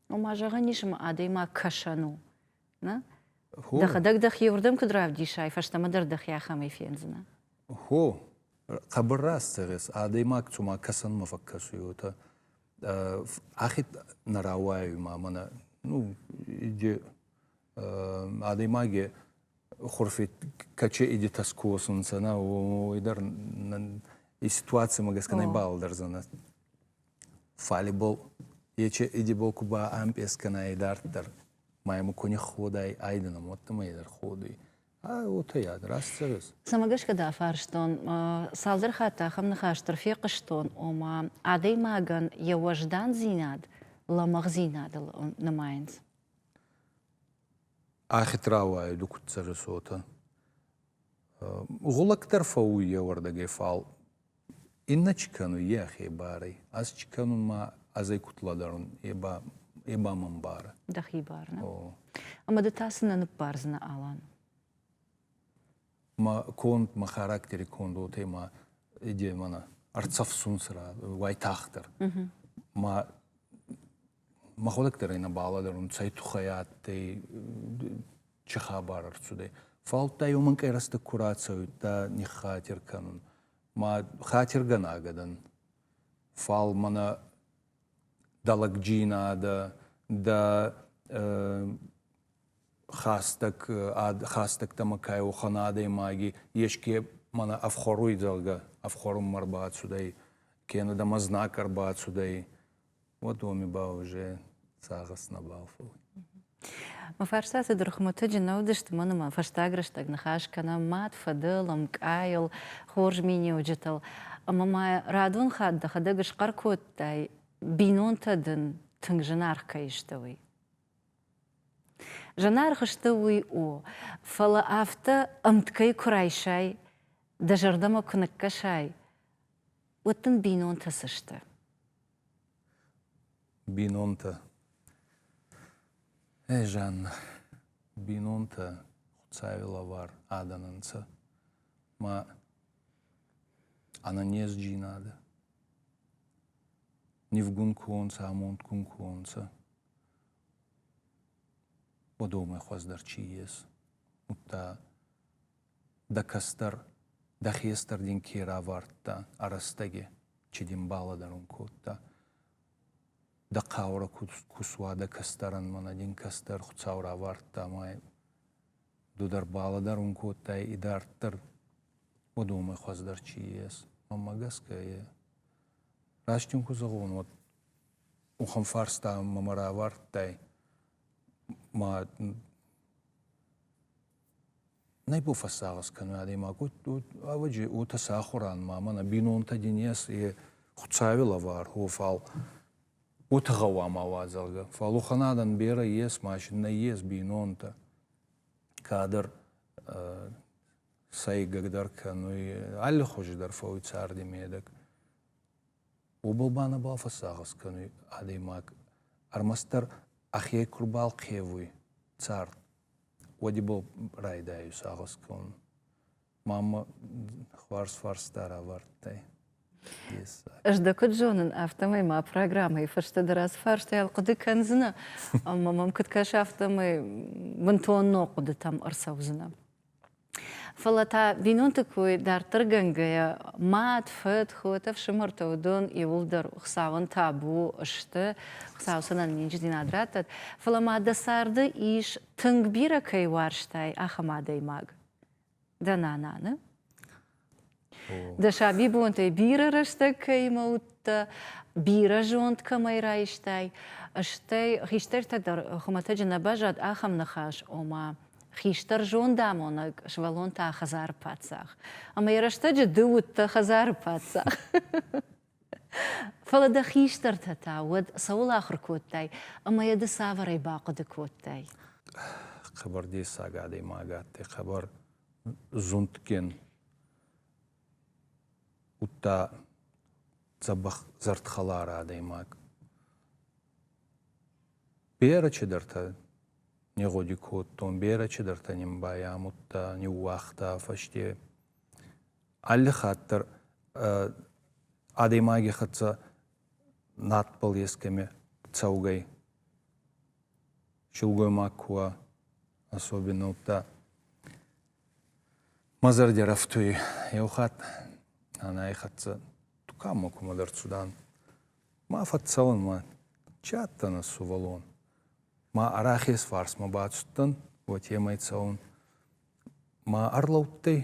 Speaker 1: Ома, зӕгъӕн ис ӕма адӕймаг кӕсӕн у. Нӕ? Хо. Дӕхӕдӕг дӕхеуырдӕм куд равдисай, фӕстӕмӕ дӕр дӕхе ахӕмӕй фендзинӕ. Хо,
Speaker 2: хъӕбӕр раст зӕгъес, адӕймаг цума кӕсӕнмӕ фӕккӕсуй, уотӕ ӕхе нӕ рауайуй ма мӕнӕ. Ну, иди адӕймаги хурфеткаче идитас косунцана, ойдар и ситуацияма гӕсгӕ нӕбалдӕрдзӕнӕ. Фалибол ече идиболку ба ампесканай дарддӕр майму кони ходай айдана моттамай дӕр ходуй. А отайад, растцӕгӕс. Цӕмӕ гӕсгӕ дӕ
Speaker 1: фарстон, цалдӕр хатт ахӕм ныхас дӕр фехъуыстон, ома адӕймагӕн йӕ уӕздандзинад лӕмӕгъдзинадыл нымайынц.
Speaker 2: Ӕхет рауайы дукуццӕджы цотӕн. Гъулӕг дӕр фӕуй йе уордӕгӕй, фал иннӕ чи кӕнуй, йӕхе барӕй. Ӕз чи кӕнун ма азӕй кутла дарун, е ба, е ба мӕн барӕ. Дӕхи барӕ.
Speaker 1: О. Ӕма ды та цынӕ ныббардзынӕ, Алан?
Speaker 2: Ма конд, ма характери конд уотӕ ма иде мӕнӕ ӕрцӕфсунсӕ уайтагъддӕр. Ма мӕхуӕдӕг дӕр ӕй нӕ балӕдӕрун, цӕй туххӕй адтӕй, чи хабар ӕрцудӕй. Фалта уомӕн къерӕстӕ ку рацӕуидта ниххатир кӕнун. Ма хатиргӕнаг адӕн. Фал мӕнӕ дӕ лӕгджийнадӕ, дӕ хӕстӕг, хӕстӕгтӕмӕ ка уӕхӕн адӕймаги еске мӕнӕ ӕфхуӕруй, зӕгъгӕ, ӕфхуӕрунмӕ ӕрбацудӕй, кенӕ дӕмӕ знаг ӕрбацудӕй, уодоми ба уже цагъӕс нӕбал фӕууй.
Speaker 1: Мӕ фарста цыдӕр хуымӕтӕджы нӕ уыдысты, мӕнӕ ма фӕстаг рӕстӕг ныхас кӕнӕм мад, фыдыл, мкъайыл, хорз миниуджытыл. Ӕмӕ ма радон хатт дӕхӕдӕг схъӕр кодтай, бинонтӕ дын тынг зынаргъ кӕй сты, уый. Зынаргъ сты уый у, фӕлӕ афтӕ ӕмткӕй куы райсай, дӕ зӕрдӕмӕ куы ныккӕсай, уӕд дын
Speaker 2: бинонтӕ цы сты? Бинонтӕ. Ӕ, Жанна, бинонтӕ Хуцауи лӕвар адӕн ӕнцӕ. Ма ӕнӕнезджийнадӕ нивгун ку онцӕ, амондгун ку онцӕ, уодомӕй хуӕздӕр чи ес. Удта Дӕ кӕстӕр дӕ хестӕр дин ке равардта ӕ рӕстӕги, чи дин балӕдӕрун кодта? Дӕ хъаурӕ ку суа дӕ кӕстӕрӕн, мӕнӕ дин кӕстӕр Хуцау равардта ма ду дӕр балӕдӕрун кодтай идарддӕр уодомӕй хуӕздӕр чи ес. Мӕнмӕ гӕсгӕ е. Раст ин ку зӕгъон, уӕд уӕхӕн фарста мӕмӕ равардтай, ма Нӕ фӕсагъӕс кӕнуй адӕймаг, ӕвӕджи уотӕ сӕ ахуран ма мӕнӕ бийнонтӕ дин ес, е Хуцауи лӕвар, о, фал уотӕ гъӕуама уа, зӕгъгӕ. Фал уӕхӕн адӕн берӕ ес, ма нӕййес бийнонтӕ. Кадӕр сӕйгагдӕр кӕнуй, аллихузидӕр фӕууй царди медӕг. Уобӕл ба нӕбал фӕсагъӕс кӕнуй адӕймаг. Ӕрмӕстдӕр ӕхе ку рбалхъевуй цард, Уӕдибыл райдайы сагъӕсгон. Маммӕ фарс-фарс дӕр авӕрдтай.
Speaker 1: Ӕз дӕ куыд зонын, афтӕмӕй мӕ программӕйы фӕстӕ дӕр ацы фарстайыл хъуыды кӕндзынӕ, ӕмӕ мӕм куыд кӕсы, афтӕмӕй бынтон ног хъуыдытӕм ӕрцӕудзынӕ. Фӕлӕ та бинонты кой дарддӕргӕнгӕйӕ, мад, фыд, хот, ӕфсымӕртӕ уыдон иуылдӕр Хуыцауӕн табу сты, Хуыцау сын ӕнӕниздзинад раттӕд. Фӕлӕ ма дӕ царды ис тынг бирӕ кӕй уарзтай, ахӕм адӕймаг. Дӕ нананы? Дӕ сабибонтӕй бирӕ рӕстӕг кӕимӕ уыдтӕ, бирӕ зонд кӕмӕй райстай, стӕй хистӕртӕ дӕр хуымӕтӕджы нӕ баззад ахӕм ныхас, ома хистӕр зондамонӕг сывӕллон та хӕдзары паддзах. Ӕмӕ йӕ рӕстӕджы ды уыдтӕ хӕдзары паддзах. Фӕлӕ дӕ хистӕртӕ та уӕд цӕуыл ахуыр кодтай ӕмӕ йӕ ды цавӕрӕй бахъуыды кодтай?
Speaker 2: Хъӕбӕр дессаг адӕймаг адтӕй, хъӕбӕр зундгин удта дзӕбӕх зӕрдхӕлар адӕймаг. Берӕ чидӕртӕ не гъуди кодтон, берӕ чидӕртӕ нин байамудта, ниууагъта фӕсте. Алли хатт дӕр адӕймаги хӕццӕ надбӕл ескӕми цӕугӕй силгоймаг ку уа, особенно удта мӕ зӕрдӕ рӕфтуй еу хатт ӕнай хӕццӕ туканмӕ кумӕдӕр цудан. Ма фӕццӕун ма чи адтӕнӕ сувӕллон. Ма арахес фарсмӕ бацудтӕн, уотемӕй цӕун. Ма ӕрлӕудтӕй,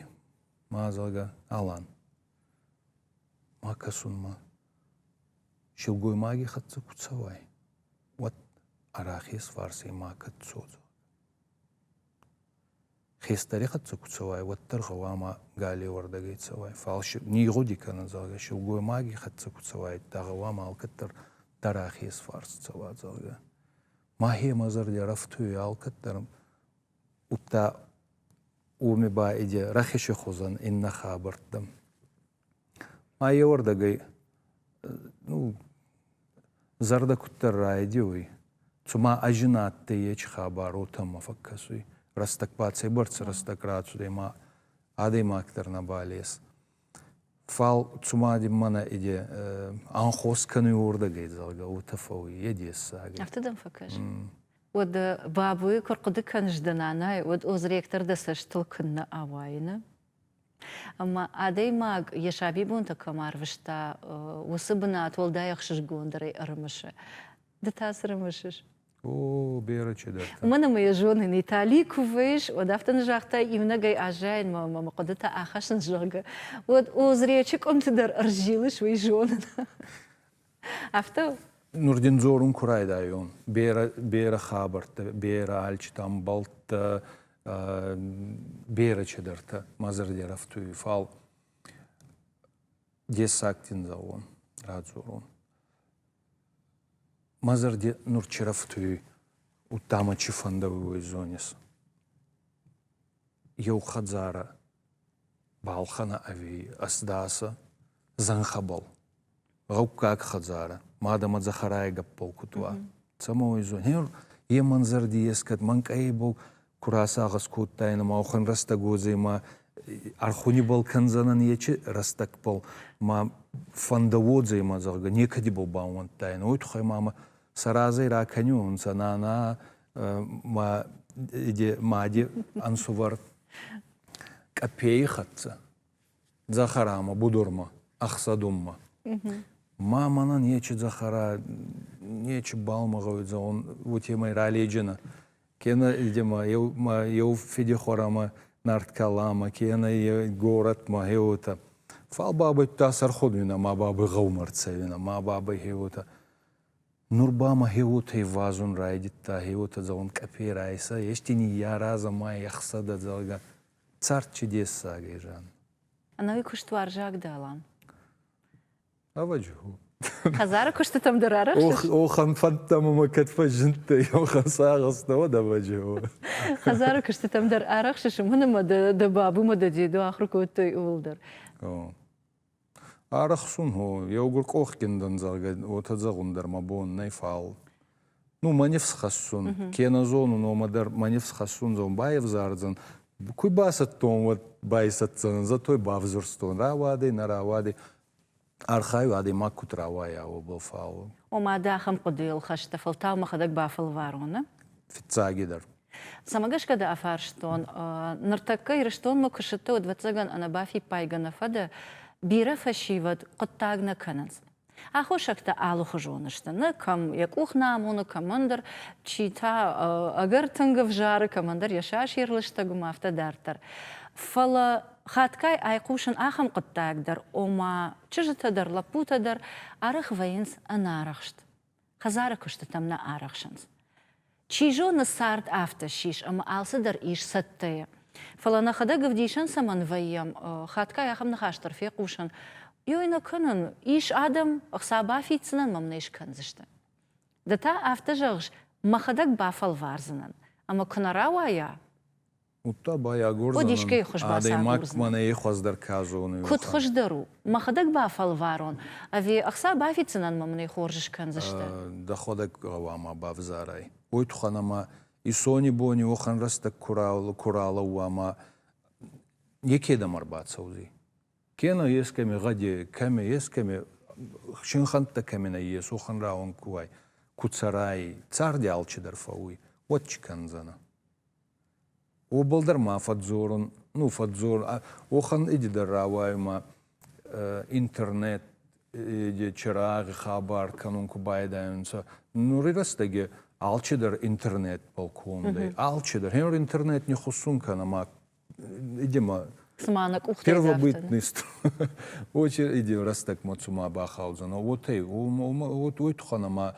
Speaker 2: ма, зӕгъгӕ, Алан. Ма кӕсун ма, силгоймаги хӕццӕ ку цӕуай. уӕд арӕхес фарсӕй макӕд цодзо. Хестӕри хӕццӕ ку цӕуай, уӕддӕр гъӕуама галеуӕрдӕгӕй цӕуай. Фал нигъгъуди кӕнун, зӕгъгӕ, силгоймаги хӕццӕ ку цӕуайдта, гъӕуама алкӕддӕр дӕр ӕхес фарс цӕуа, зӕгъгӕ. Мӕхемӕ зӕрди ӕрӕфтуй алкӕддӕр, удта уоми ба иде рахесӕ хузӕн иннӕ хабӕрттӕм. ма еуӕрдӕгӕй зӕрдӕ куддӕр райдиуй, цума ӕзи на адтӕй ечи хабар, уотӕмӕ фӕккӕсуй. Рӕстӕг ба цӕйбӕрцӕ рӕстӕг рацудӕй, ма адӕймаг дӕр нӕбал ес. Фал цума мӕнӕ иде анхос кӕнуй уордӕгӕй, зӕгъгӕ, уотӕ фӕууй, е дессаг ӕй. Афтӕ дӕм фӕкӕс.
Speaker 1: Уӕд бабуйы куы рхъуыды кӕныс дӕ нанайы, уӕд озректор дӕ цӕстыл куыннӕ ауайыны? Ӕмӕ адӕймаг йӕ сабибонтӕ кӕм арвыста, уыцы бынат уӕлдай ӕхсызгондӕрӕй ӕрымысы. Ды та цы рымысыс? О, бирӕ
Speaker 2: чидӕр. Мӕн ӕмӕ йӕ зонын,
Speaker 1: Итали куы выйс, уӕд афтӕ ны загътай, иунӕгӕй аззайынмӕ ӕмӕ мӕ хъуыдытӕ ахӕссынц, зӕгъгӕ. Уӕд Озречы къуымты дӕр ӕрзилыс, уый зонын. Афтӕ
Speaker 2: Нурдиндзорун ку райдайон, берӕ, берӕ хабӕрттӕ, берӕ альчитӕ ӕмбӕлттӕ, берӕ чидӕртӕ мӕ зӕрди рафтуй, фал дессагдин дзауон радзорун. Мӕ зӕрди нур чи рафтуй, удта мӕ чи фӕндӕуй уой зонис. Еу хӕдзарӕ балхӕнӕ ӕви ӕздасӕ зӕнхӕбӕл гъӕуккаг хӕдзарӕ, мадӕмӕ дзӕхӕрайы гӕппыл куыд уа. Цӕмӕн уый зоны? Йе мӕнзӕрди ескӕд мӕнкъайы бон куы рацагъӕс кодтаин ӕмӕ охын рӕстӕг уодзӕй ӕрхуни был кӕндзӕнӕн ечи рӕстӕгбыл ма фӕндӕ уодзӕй ма зӕгъгӕ некӕдибал баууӕндтаин, уой туххӕй ма мӕ сӕ разӕй ракӕниуонцӕ нана ма мади ӕнсувӕр Къапейи хӕццӕ. Дзахарамӕ, Будурмӕ, Ӕхсӕдуммӕ. Ма мӕнӕн ечи Дзахара нечи баумӕгъӕуй зӕгъун уотемӕй раледжӕнӕ. Кенӕ идемӕ еу, ма еу федехуарӕмӕ нард каламӕ, кенӕ е горӕтмӕ хеуотӕ. Фал бабӕйттӕ сӕрходуйнӕ ма бабӕй гъӕумӕ рцӕуинӕ, ма бабӕй хеуотӕ. Нур ба мӕ хеуотӕй вазун райдӕдта, хеуотӕ зӕгъун, къӕпе райсӕ, ести ниййаразӕ ма ехсӕдӕ, зӕгъгӕ. Цард чудесагӕй, Жан. Ӕнӕуи
Speaker 1: куыстуарзаг дӕ, Алан? Ӕвӕджы
Speaker 2: у. Хӕдзары куыстытӕм
Speaker 1: дӕр арӕхсыс? Охӕн фӕндтӕм
Speaker 2: ӕмӕ кӕд фӕзындтӕй, охӕн сагъӕстӕ уӕд ӕвӕджы у. Хӕдзары
Speaker 1: куыстытӕм дӕр арӕхсыс, уымӕн ӕмӕ дӕ бабумӕ дӕ деду ахуыр кодтой, ууыл дӕр.
Speaker 2: Арӕхсун гьо, еугур къохгин дӕн, зӕгъгӕ, уотӕ зӕгъун дӕр мӕ бон нӕй, фал. Ну, мӕ нифсхӕссун, кенӕ зонун, омӕ дӕр мӕ нифсхӕссун, зон, байефзардзӕн. Ку бацӕттон, уӕд байсӕтдзӕнӕн, зӕтой бавзурстон, рауадӕй, нӕ рауадӕй. Архайу, адӕймаг куд рауайа, уобӕл, фал.
Speaker 1: Омӕ дӕ ахӕм хъуыдыйыл хӕсты фӕлтау мӕхӕдӕг бафӕлварон, а? Фиццагидӕр. Цӕмӕ гӕсгӕ дӕ афарстон? Ныртӕккӕ Ирыстонмӕ куы сыдтӕ, уӕд, ӕвӕццӕгӕн, ӕнӕбафиппайгӕ нӕ фӕдӕ, бирӕ фӕсивӕд хъуыддаг нӕ кӕнынц. Аххосӕгтӕ алыхуызон сты, нӕ кӕм йӕ къух нӕ амоны, кӕмӕндӕр, чи та ӕгӕр тынг ӕвзары, кӕмӕндӕр йӕ сасир лыстӕг уым, афтӕ дарддӕр. Фӕлӕ хатгай айхъусын ахӕм хъуыддаг дӕр, ома, чызджытӕ дӕр, лӕппутӕ дӕр арӕх вӕййынц ӕнӕарӕхст. хӕдзары куыстытӕм нӕ арӕхсынц. Чи зоны, цард афтӕ ссис ӕмӕ алцыдӕр ис цӕттӕйӕ. Фӕлӕ нӕхӕдӕг ӕвдисӕн цӕмӕн вӕййӕм, хатгай ахӕм ныхас дӕр фехъусын, Ёй нӕ кӕнын, ис адӕм, ӕхца бафиддзынӕн мӕм нӕ скӕндзысты. Ды та афтӕ зӕгъыс, мӕхӕдӕг бафӕлвардзынӕн, ӕмӕ куы нӕ рауайа, Удта
Speaker 2: ба агордзӕнӕн, искӕй хуз адӕймаг
Speaker 1: мӕнӕ е
Speaker 2: хуӕздӕр ка зоны. Куд хуздӕр у,
Speaker 1: мӕхӕдӕг бафӕлварон, ӕви ӕхца бафиддзӕнӕн мӕ мын ӕй хорз скӕндзӕстӕ? Дӕхуӕдӕг
Speaker 2: гъӕуама бавзарай уой туххӕн ӕма исонибони уӕхӕн рӕстӕг ку ралӕууа ма некедӕмӕ ӕрбацӕудзий. Кенӕ ескӕми гъӕди, кӕми, ескӕми, синхӕнттӕ кӕми нӕййес, уӕхӕн рауӕн ку уай, ку цӕрай, царди алчидӕр фӕууй, уӕд чи кӕндзӕнӕ? Уобӕлдӕр ма фӕдздзорун, ну фӕдздзор, уохӕн идидӕ рауайунмӕ интернет чирагъи хабар кӕнун ку байдайонцӕ. Нури рӕстӕги алчидӕр интернетбӕл кондӕй. Алчидӕр. Гъенур интернет не хуссун кӕнӕ ма идемӕ цума нӕ къухтӕй
Speaker 1: первобытный
Speaker 2: очередь рӕстӕгмӕ цума бахаудзӕнӕ, уотӕй, уой туххӕн ӕма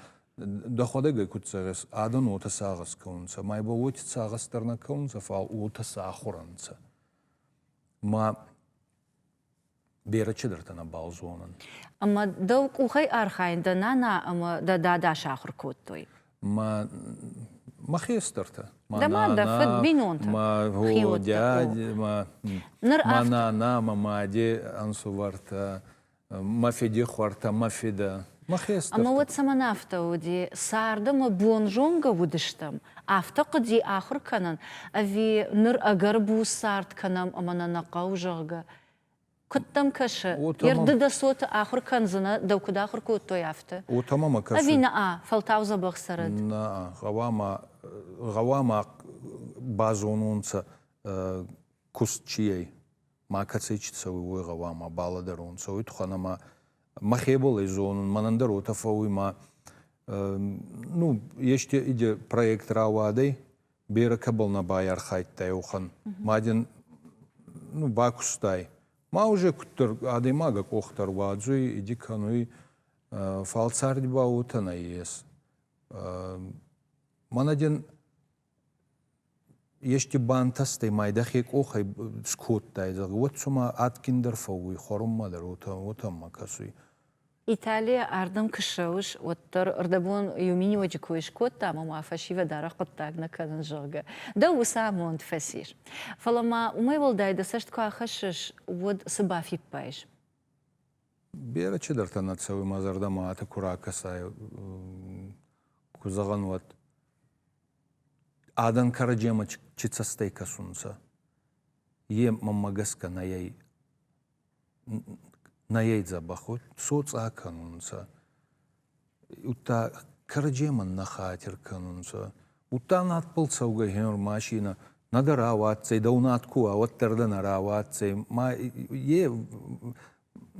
Speaker 2: Дӕхуӕдӕг ӕй куд цӕрес, адӕн уотӕ сагъӕс кӕунцӕ, май ба уоти сагъӕс дӕр нӕ кӕунцӕ, фал уотӕ сахур ӕнцӕ. Ма берӕ чидӕртӕ нӕбал зонӕн. Ӕма дӕу
Speaker 1: къухӕй архайӕн дӕ нана ӕма дӕ дада сахур кодтой? Ма
Speaker 2: мӕхе стӕртӕ. Дӕ мадӕ,
Speaker 1: фыд, бинонтӕ? Ма
Speaker 2: дядя, ма нана, ма мӕ мади ӕнсувӕртӕ. Мӕ федехуартӕ, мӕ федӕ, мӕ хестӕртӕ. Ӕмӕ уӕд цӕмӕн афтӕ
Speaker 1: уыди? Царды мӕ бонзонгӕ уыдыстӕм, афтӕ хъуыди ахуыр кӕнын, ӕви ныр ӕгӕр буц цард кӕнӕм ӕмӕ нӕ нӕ хъӕуы, зӕгъгӕ. Куыд дӕм кӕсы, Ертды дӕ цоты ахуыр кӕндзынӕ, дӕу куыд ахуыр кодтой, афтӕ? О, та мӕ мӕ кӕсы. Ӕви нӕ-а,
Speaker 2: фӕлтау
Speaker 1: дзӕбӕх цӕрӕд? Нӕ-а, гъӕуама,
Speaker 2: гъӕуама базонон сӕ куыст чи ӕй. макӕцӕй чи цӕуй, уой гъӕуама балӕдӕрон, цӕуй тухӕн ӕма мӕхеболӕй зонун, мӕнӕн дӕр уотӕ фӕууй ма ну, ести иде проект рауадӕй, берӕ кӕбӕл нӕ байархайдта еухӕн. Ма дин ну, бакустай. Ма уже куддӕр адӕймаг ӕ къох дӕр уадзуй, иди кӕнуй, фал царди ба уотӕ нӕййес. Мӕнӕ дин Есте бантӕстӕй ма дӕхе къохӕй скодтай, зӕгъгӕ, уӕд цума адгиндӕр фӕууй хуӕрунмӕ дӕр, уотӕ, уотӕмӕ кӕсуй. Италийӕ
Speaker 1: ардӕм куы ссӕуыс, уӕддӕр рдӕбон иу миниуӕджы кой скодта ӕмӕ ма фӕсивӕд арӕх хъуыддаг нӕ кӕнынц, зӕгъгӕ, дӕ уыцы амонд фӕцис. Фӕлӕ ма уымӕй уӕлдай дӕ цӕст куы ахӕссыс, уӕд цы бафиппайыс?
Speaker 2: Бирӕ чидӕртӕ нӕ цӕуы мӕ зӕрдӕмӕ аты куы ракӕсай, куы зӕгъӕн, уӕд адӕн кӕрӕдземӕ чи цӕстӕй кӕсунцӕ, е мӕммӕ гӕсгӕ нӕйӕй нӕйӕй дзӕбӕх уой, соцъа кӕнунцӕ. удта кӕрӕдземӕн нӕ хатир кӕнунцӕ. Удта надбӕл цӕугӕй хенур машинӕ нӕ дӕ рауадздзӕй, дӕу над ку уа, уӕддӕр дӕ нӕ рауадздзӕй. Ма е,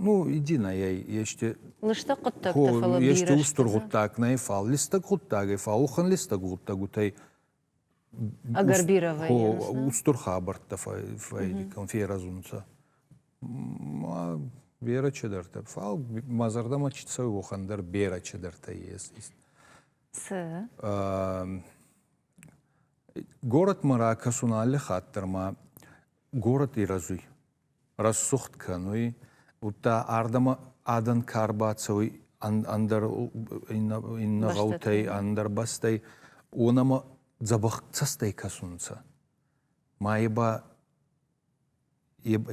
Speaker 2: ну, иди нӕйӕй, есте... Листӕг
Speaker 1: хъуддӕгтӕ, фӕлӕ ести устур гъуддаг
Speaker 2: нӕй, фал листӕг гъуддагӕй, фал уӕхӕн листӕг гъуддӕгутӕй Агарбировӕй.
Speaker 1: Устур хабӕрттӕ
Speaker 2: фӕййиккон ферӕзунцӕ. Берӕ чидӕртӕ. Фал мӕ зӕрдӕмӕ чи цӕуй, уохӕн дӕр берӕ чидӕртӕ есть. Цы? Горӕтмӕ ракӕсун алли хатт дӕр ма горӕт Ирӕзуй. рӕсугъд кӕнуй, удта ардӕмӕ адӕн ка рбацӕуй ӕндӕр иннӕ гъӕутӕй, ӕндӕр бӕстӕй, уонӕмӕ дзӕбӕх цӕстӕй кӕсунцӕ. Ма е ба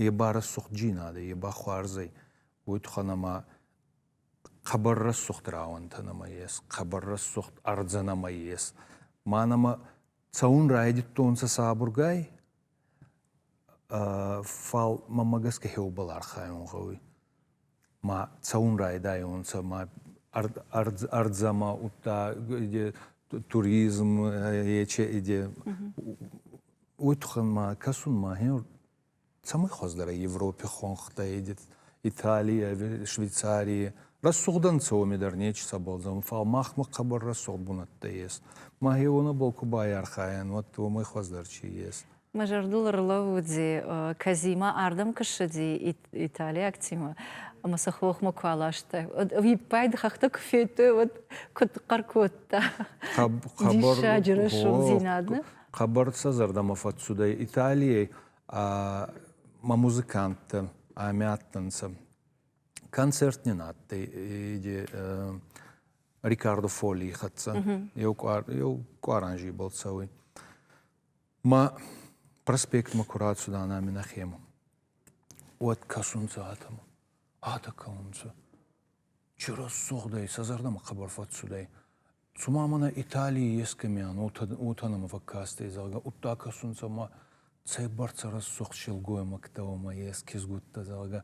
Speaker 2: е ба рӕсугъдджийнадӕ, е ба хуарзӕй, уой туххӕн ӕма хъӕбӕр рӕсугъд рауӕнтӕ нӕма ес, хъӕбӕр рӕсугъд ӕрдзӕ нӕма ес. Ма нӕмӕ Цӕун райдӕдтонцӕ сабургай, фал мӕмӕ гӕсгӕ хеубӕл архайун гъӕуй. Ма цӕун райдайонцӕ, ма ӕрдзӕмӕ удта туризм, ече, уой туххӕн ма кӕсун махе цӕмӕй хуӕздӕр ӕй Европи хуӕнхтӕ Италийӕ, Швейцарийӕ. Рӕсугъд ӕнцӕ уоми дӕр нечи сӕбӕлдзӕн, фал махмӕ хъӕбӕр рӕсугъд бунӕттӕ ес. Ма еуонӕбӕл ку байархайӕн, уӕд уомӕй хуӕздӕр чи ес? Мӕ зӕрдыл
Speaker 1: ӕрлӕууыди, Казимӕ ардӕм куы ссыди италиаг тимӕ ӕмӕ сӕ хохмӕ куы аласта, уӕд ӕвиппайды хӕхтӕ куы федтой, уӕд куыд хъӕр кодта. Диссаджы рӕсугъддзинад, нӕ? Хъӕбӕр сӕ
Speaker 2: зӕрдӕмӕ фӕццудӕй Италийӕй ма музыканттӕ ами адтӕнцӕ. Концерт нин адтӕй иди Рикардо Фоли хӕццӕ. Еу къуаранжи был цӕуй. Ма проспектмӕ ку рацудан ами нӕхемӕ, уӕд кӕсунцӕ адӕмӕ. Адӕ кӕунцӕ. Чи рӕсугъдӕй, сӕ зӕрдӕмӕ хъӕбӕр фӕццудӕй. Цума мӕнӕ Италий ескӕмиан уотӕ нӕмӕ фӕккастӕй, зӕгъгӕ, удта кӕсунцӕ ма цӕйбӕрцӕ рӕсугъд силгоймӕгтӕ уӕмӕ ескизгудта, зӕгъгӕ.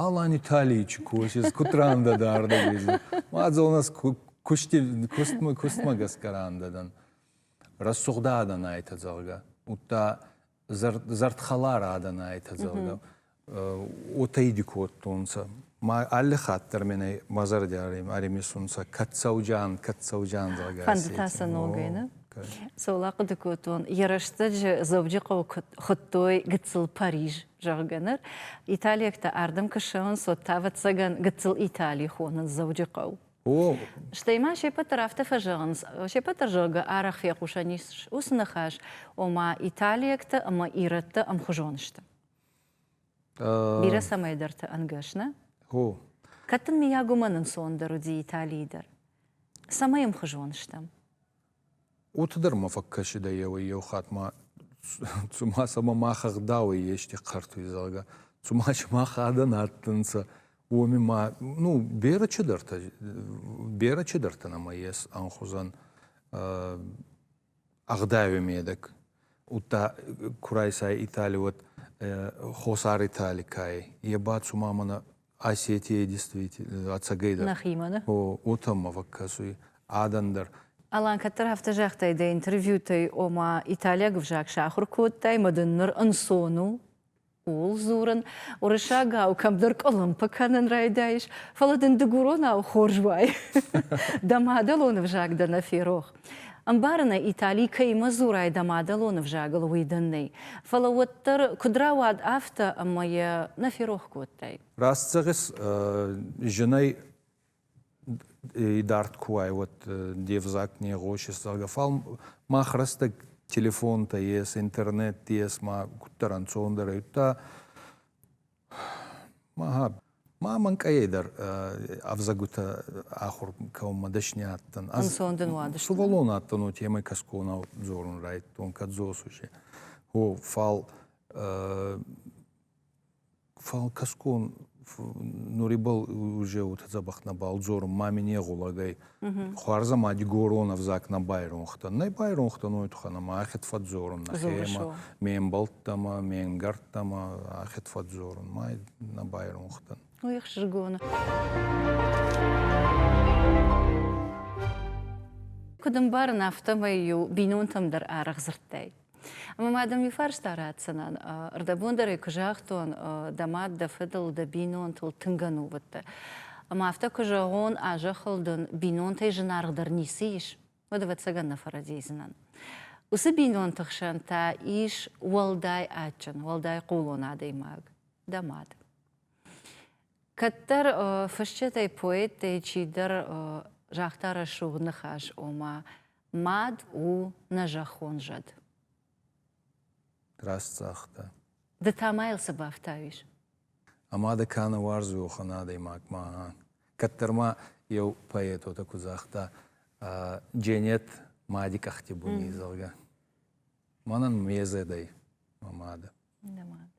Speaker 2: Алан Италийи чи косис, куд рандӕ дӕ ардӕг езин, мадзолнӕ кустмӕ гӕсгӕ рандӕ дӕн, рӕсугъдӕ адӕн айтӕ, зӕгъгӕ. Удта зӕрдхӕлар адӕн айтӕ, зӕгъгӕ, уотӕ иди кодтонцӕ. Ма алли хатт дӕр мене мӕ зӕрдиарӕй ӕримисунцӕ кӕцӕуджан, кӕцӕуджан, зӕгъгӕ. Фӕндтӕ сӕ ногӕй,
Speaker 1: нӕ? Цол ахъуыды кодтон, йӕ рӕстӕджы Дзӕуджыхъӕуы хуыдтой гыццыл Париж, зӕгъгӕ ныр. Италиӕгтӕ ардӕм куы ссӕуынц, уӕд та, ӕвӕццӕгӕн, гыццыл Итали хонынц Дзӕуджыхъӕу. Стӕй ма се пӕт дӕр афтӕ фӕзӕгъынц, се пӕт дӕр зӕгъгӕ арӕх фехъусӕн ис уыцы ныхас, ома италиӕгты ӕмӕ ирӕтты ӕмхуызон сты. Бирӕ цӕмӕйдӕрты ӕнгӕс нӕ? О. Кӕд дын мийаг уымӕн ӕнцондӕр уыди Италийы дӕр? Цӕмӕй ӕмхуызон стӕм?
Speaker 2: Уыты дӕр ма фӕкӕсыдӕй еуӕй-еу хатт ма цума сӕмӕ мах ӕгъдауӕй ести хъӕртуй, зӕгъгӕ. Цума сымах адӕн адтӕнцӕ, уоми ма, ну, берӕ чидӕртӕ, берӕ чидӕртӕ нӕма ес ӕнхузӕн ӕгъдауи медӕг. Удта ку райсай Итали, уӕд Хосар Итали кайай. Е ба цума мӕнӕ Осетия действительно ӕцӕгӕй дӕр. Нӕхимӕ ны? О,
Speaker 1: отӕм ма
Speaker 2: фӕкӕсуй адӕн дӕр. Алан кӕддӕр
Speaker 1: афтӕ загътай, дӕ интервьютӕй, ома италиаг ӕвзаг сахуыр кодтай, мӕ дын ныр ӕнцон у ууыл дзурын, уырыссагау кӕмдӕр къуылымпы кӕнын райдайыс, фӕлӕ дын дыгуронау хорз уай. Дӕ мадӕлон ӕвзаг дӕ нӕ ферох. Ӕмбарынӕй Итали кӕимӕ дзурай дӕ мадӕлон ӕвзагыл, уый дӕн нӕй. Фӕлӕ уӕддӕр, куыд рауад афтӕ, ӕмӕ йӕ нӕ ферох кодтай? Раст зӕгъыс,
Speaker 2: зынӕй идард куы уай, уӕд де взаг не гъосыс, зӕгъгӕ, фал мах рӕстӕг телефонтӕ ес, интернет ес, ма куддӕр ӕнцондӕр ӕй удта Ма мӕнкъайӕй дӕр ӕвзӕгутӕ ахур кӕунмӕ дӕсни адтӕн. Ӕнцон дин уадӕстӕ?
Speaker 1: Сувӕллон адтӕн, уотемӕй
Speaker 2: темӕй кӕсгонау дзорун райдтон, кӕд дзосусе. О, фал фал кӕсгон нурибӕл уже уотӕ дзӕбӕх нӕбал дзорун, ма мин е гъулагӕй Хуарзамади горон ӕвзаг нӕ байронхтан. Нӕ байронхтан уой туххӕн ӕма ӕхед фӕдздзорун нӕхемӕ, ме мбӕлттӕмӕ, ме нгӕрттӕмӕ ӕхед фӕдздзорун. Ма нӕ байронхтан. Уих сжигона.
Speaker 1: Куд ӕмбарын, афтӕмӕй-иу бинонтӕм дӕр арӕх дзырдтай. Ӕмӕ ма дӕм иу фарста ратдзынӕн. Рдӕбон дӕр ӕй куы загътон, дӕ мад, дӕ фыдыл, дӕ бинонтыл тынг ӕнувыдтӕ. Ӕмӕ афтӕ куы зӕгъон, а зӕххыл дын бинонтӕй зынаргъдӕр ницы ис, уӕд ӕвӕццӕгӕн нӕ фӕрӕдийдзынӕн. Уыцы бинонты хсӕн та ис уӕлдай адджын, уӕлдай хъулон адӕймаг, дӕ мад. Кӕддӕр фысджытӕй, поэттӕй чидӕр загъта рӕсугъд ныхас, ома, Мад у нӕ зӕххон зӕд. Раст
Speaker 2: цагъта. Ды та ма
Speaker 1: йыл цы бафтауис? Ӕмӕ
Speaker 2: дӕ кӕны уарзохон адӕймагмӕ. Кӕддӕр ма еу поэтотӕ куы загъта, Дженет мади къӕхти буни, зӕгъгӕ. Мӕнӕн ме зӕдӕй мӕ мады. Дӕ мад.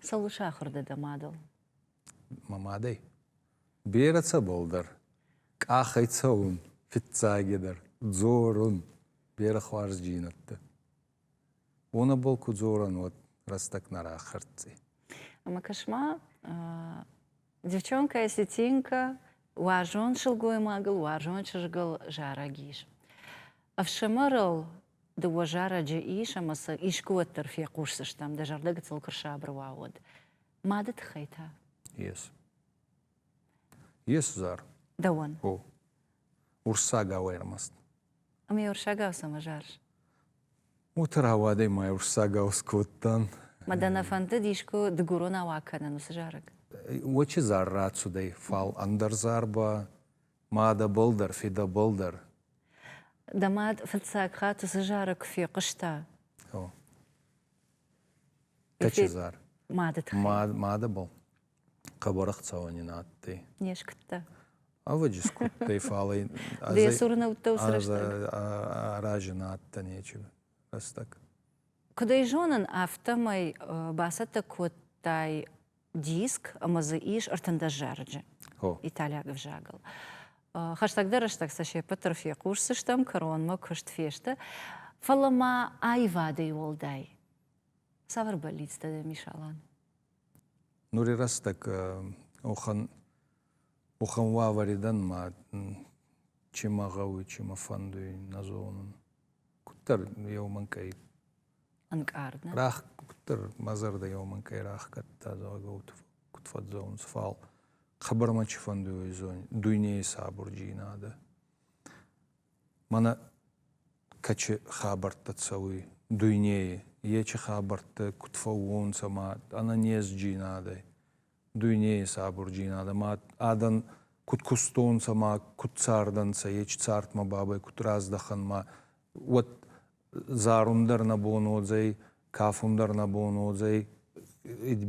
Speaker 1: Цӕуыл сахуыр дӕ дӕ мадыл? мӕ
Speaker 2: мадӕй. Берӕ цӕбӕлдӕр къахӕй цӕун, фиццагедӕр дзорун берӕ хуарзджийнӕдтӕ. Уонӕбӕл ку дзорӕн, уӕд рӕстӕг нӕ рахӕрддзӕй.
Speaker 1: Ӕма кӕс-ма, девчонкӕ Сетинка уарзон сылгоймагыл, уарзон чызгыл зарӕг ис. Ӕфсымӕрыл дыууӕ зарӕджы ис ӕмӕ сӕ искуы уӕддӕр фехъусдзыстӕм, дӕ зӕрдӕ гыццыл куы рсабыр уа, уӕд. Мады тыххӕй та? Yes.
Speaker 2: Yes, Zar. Дӕуӕн. О. Урсагау ӕрмӕст. Ами
Speaker 1: урсагау цӕмӕ зарыс? Уыты
Speaker 2: рауадӕй мӕ урсагау скодтан. Мӕ дӕ нӕ фӕндыд
Speaker 1: искуы дыгурон ауа кӕнын уыцы зарӕг? Очи зар
Speaker 2: рацудӕй, фал ӕндӕр зар ба ма дӕбӕл дӕр, федӕбӕл дӕр. Дӕ
Speaker 1: мад фыццаг хатт уыцы зарӕг куы фехъуыста. О.
Speaker 2: Тӕчызар. Мады тыххӕй.
Speaker 1: Мадӕбӕл
Speaker 2: хъӕбӕр ӕхцӕуӕн ин адтӕй. Не скуыдта?
Speaker 1: Ӕвӕджи
Speaker 2: скуыдтӕй, фал ӕй... Дӕ цурнӕуттӕ
Speaker 1: уыцы рӕстӕг? Арази
Speaker 2: нӕ адтӕ нечи рӕстӕг. Куыд ӕй
Speaker 1: зонын, афтӕмӕй бацӕттӕ кодтай диск ӕмӕ дзы ис ӕртындӕс зарӕджы италиаг ӕвзагыл. Хӕстӕгдӕр рӕстӕг сӕ се ппӕтдӕр фехъусдзыстӕм, кӕронмӕ куыст фесты, фӕлӕ ма аивадӕй уӕлдай цавӕр бӕллицтӕ дӕм ис, Алан?
Speaker 2: Нури рӕстӕг охӕн охӕн уавӕри дӕн ма чи мӕ гъӕуй, чи мӕ фӕндуй, нӕ зонун. Куддӕр еу мӕнкъӕй
Speaker 1: ӕнкъард. Рахгтыр
Speaker 2: мӕ зӕрдӕйӕ уымӕн кӕй рахгӕдта, зӕгъгӕ, куыд фӕдзӕуынц, фал хабармӕ чи фӕндуй дуйнейы сабурджийнадӕ. Мӕнӕ кӕчи хабӕрттӕ цӕуй дуйнейи, ечи хабӕрттӕ куд фӕуонцӕ ма ӕнӕнезджийнадӕй, дуйнейӕ сабурджин адӕмӕ адӕн куд кустонцӕ ма куд цардӕнцӕ, ечи цардмӕ бабӕй куд раздӕхӕн ма, уӕд зарун дӕр нӕ бон уодзӕй, кафун дӕр нӕ бон уодзӕй,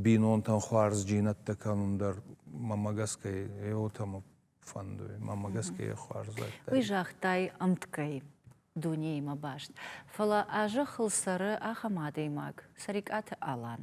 Speaker 2: бийнонтӕн хуарзджийнӕдтӕ кӕнун дӕр мӕмӕ гӕсгӕ е уотӕ мӕ фӕндуй, мӕмӕ гӕсгӕ е хуарзӕдтӕ. Уый загътай
Speaker 1: ӕмткӕй дунеимӕ баст, фӕлӕ а зӕххыл цӕры ахӕм адӕймаг, Цӕрикъаты Алан.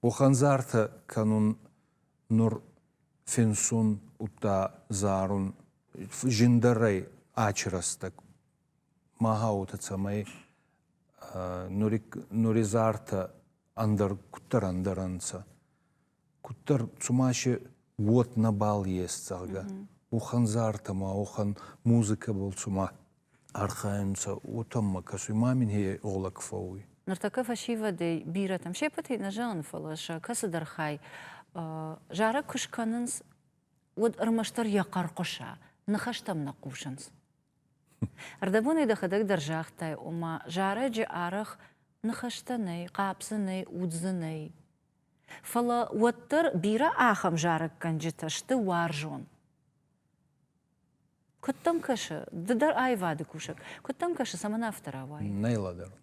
Speaker 2: Къухӕндзартӕ кӕнун нур финсун удта зарун зиндӕрӕй ачи рӕстӕг. Мага уотӕ цӕмӕй нури зартӕ ӕндӕр куддӕр ӕндӕр ӕнцӕ. Куддӕр цумаши уот нӕбал ес, зӕгъгӕ. Уохӕн зартӕ ма уохӕн музыкӕбӕл цума архайунцӕ, уотӕммӕ кӕсуй, ма мин хе гъулӕг фӕууй. Нуртӕккӕ фӕсивӕдӕй
Speaker 1: бирӕтӕм сеппӕтӕй нӕ зӕгъун, фӕлӕ сӕ кӕцыдӕр хай зарӕг куы скӕнынц, уӕд ӕрмӕстдӕр йӕ хъӕрхъуыса, ныхӕстӕм нӕ хъусынц. Ӕрдӕбонӕй дӕхӕдӕг дӕр загътай, ома зарӕджы арӕх ныхӕстӕ нӕй, хъӕп дзы нӕй, уд дзы нӕй. Фӕлӕ уӕддӕр бирӕ ахӕм зарӕггӕнджытӕ сты уарзон. Куыд дӕм кӕсы? Ды дӕр аивады кусӕг. Куыд дӕм кӕсы, цӕмӕн афтӕ рауайы? Нӕй лӕдӕрун.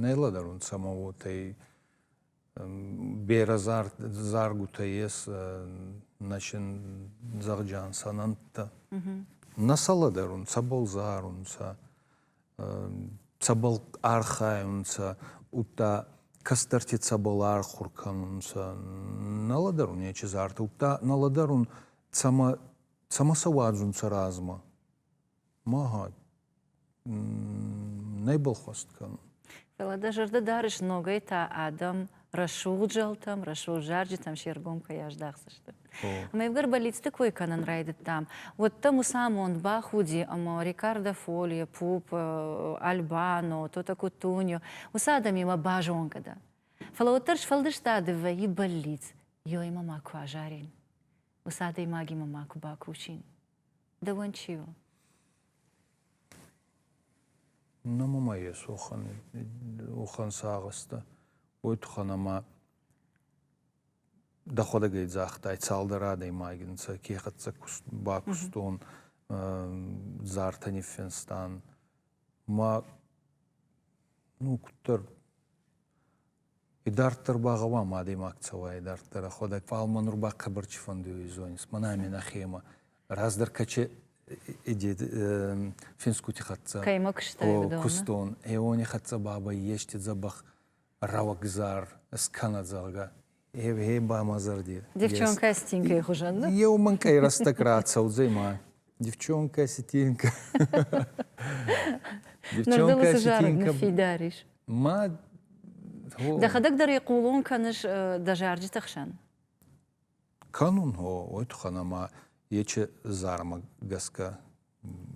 Speaker 1: Нӕй
Speaker 2: лӕдӕрун самовотӕй берӕ заргутӕ ес начин зӕгъджан сӕнӕнттӕ. Нӕ сӕ лӕдӕрун, цӕбӕл зарунцӕ, цӕбӕл архайунцӕ, удта кӕстӕрти цӕбӕл архур кӕнунцӕ. Нӕ лӕдӕрун нечи зарта, удта нӕ лӕдӕрун, цӕмӕ Цӕмӕ сӕ уадзун сӕ размӕ? Магьа, нӕ балхуӕст кӕнун. Фӕлӕ дӕ зӕрдӕ
Speaker 1: дарыс, ногӕй та адӕм рӕсугъд зӕлтӕм, рӕсугъд зарджытӕм се ргом кӕй аздахдзысты. Ӕмӕ ивгӕр бӕллицты кой кӕнын райдыдтам, уӕд дӕ муцамонд бӕх уыди, ӕмӕ Рикардо Фолье, Пуп, Альбано, Тото Кутуньо, уыцы адӕмимӕ базонгӕ дӕн. Фӕлӕ уӕддӕр сфӕлдыстады вӕййы бӕллиц, ёемӕ ма куы азарин. уыцы
Speaker 2: адӕймагимӕ ма куы бакусин. Дӕуӕн чи у? Намумайы сохан ухан сагъыста. Ой тухан ӕмӕ дӕхуӕдӕг ӕй загътай, цалдӕр адӕймаги нцӕ кехӕццӕ бакустон, зартӕ ниффенстан. Ма ну куддӕр Идарддӕр ба гъӕуам адӕймаг цӕуа идарддӕр ӕхуӕдӕг, фал ма нур ба хъӕбӕр цифӕндуйуй зонис. Мӕнӕ ами нӕхемӕ раздӕр каче иди финсгути хӕццӕ. Кӕймӕ кустайдӕ
Speaker 1: Кустон. Э уони
Speaker 2: хӕццӕ бабӕй ести дзӕбӕх рӕуӕгзар скӕнӕ, зӕгъгӕ. Э ба мӕ зӕрди. Девчонкӕ стинкӕй
Speaker 1: хузӕн, нӕ? Еу мӕнкъӕй рӕстӕг
Speaker 2: рацӕудзӕй ма. Девчонка Сетенко.
Speaker 1: Девчонка Сетенко. фидарис. Ма Дӕхӕдӕг дӕр хъулон кӕныс дӕ зарджыты хсӕн?
Speaker 2: Кӕнон, о, уый туххӕн ӕмӕ ечы зармӕ гӕсгӕ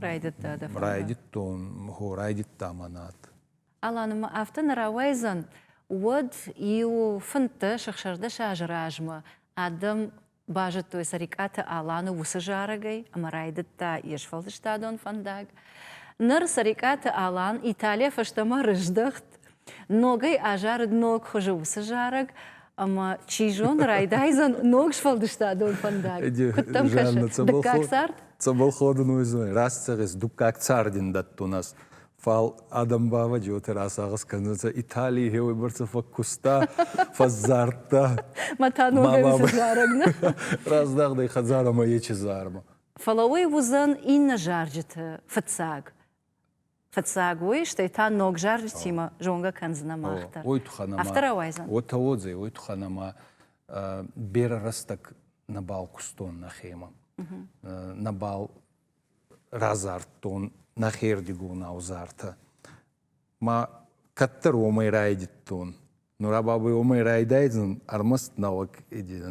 Speaker 2: райдыдта
Speaker 1: дӕ райдыдтон,
Speaker 2: хо райдыдта мӕнат. Аланы ма
Speaker 1: афтӕ нӕ рауайдзӕн, уӕд иу фынддӕс-ӕхсӕздӕс азы размӕ адӕм Базыдтой Цӕрикъаты Аланы уыцы зарӕгӕй ӕмӕ райдыдта йе сфӕлдыстадон фӕндаг. Ныр Цӕрикъаты Алан Италийӕ фӕстӕмӕ рыздӕхт, ногӕй азарыд ног хуызы уыцы зарӕг, ӕмӕ, чи зоны, райдайдзӕн ног сфӕлдыстадон фӕндаг. Куыд дӕм кӕсы, дыккаг цард? Цӕбӕл ходун
Speaker 2: уодзӕнӕй? Раст зӕгъис, дуккаг цард ин дӕттун ӕз. Фал адӕм ба уотӕ рацагъӕс кӕнунцӕ, Италий хеуӕйбӕрцӕ фӕккуста, фӕззардта. Ма та
Speaker 1: ногӕй фӕзарӕг, нӕ? Раздагъдӕй
Speaker 2: хӕдзарӕмӕ ечи зармӕ. Фӕлӕ уый уыдзӕн
Speaker 1: иннӕ зарджыты фыццаг. Фыццаг уый, стӕй та ног зарджытимӕ зонгӕ кӕндзынӕ мах дӕр. Ой туххӕн ӕмӕ. Афтӕ рауайдзӕн.
Speaker 2: Уотӕ
Speaker 1: уодзӕй, ой туххӕн
Speaker 2: ӕмӕ берӕ рӕстӕг нӕбал кустон нӕхемӕ. Нӕбал Радзырдтон нӕхирдигон ӕвзартӕ. Ма кӕддӕр уомӕй райдӕдтон. Нур а бабӕй уомӕй райдайдзӕн ӕрмӕст нӕуӕг,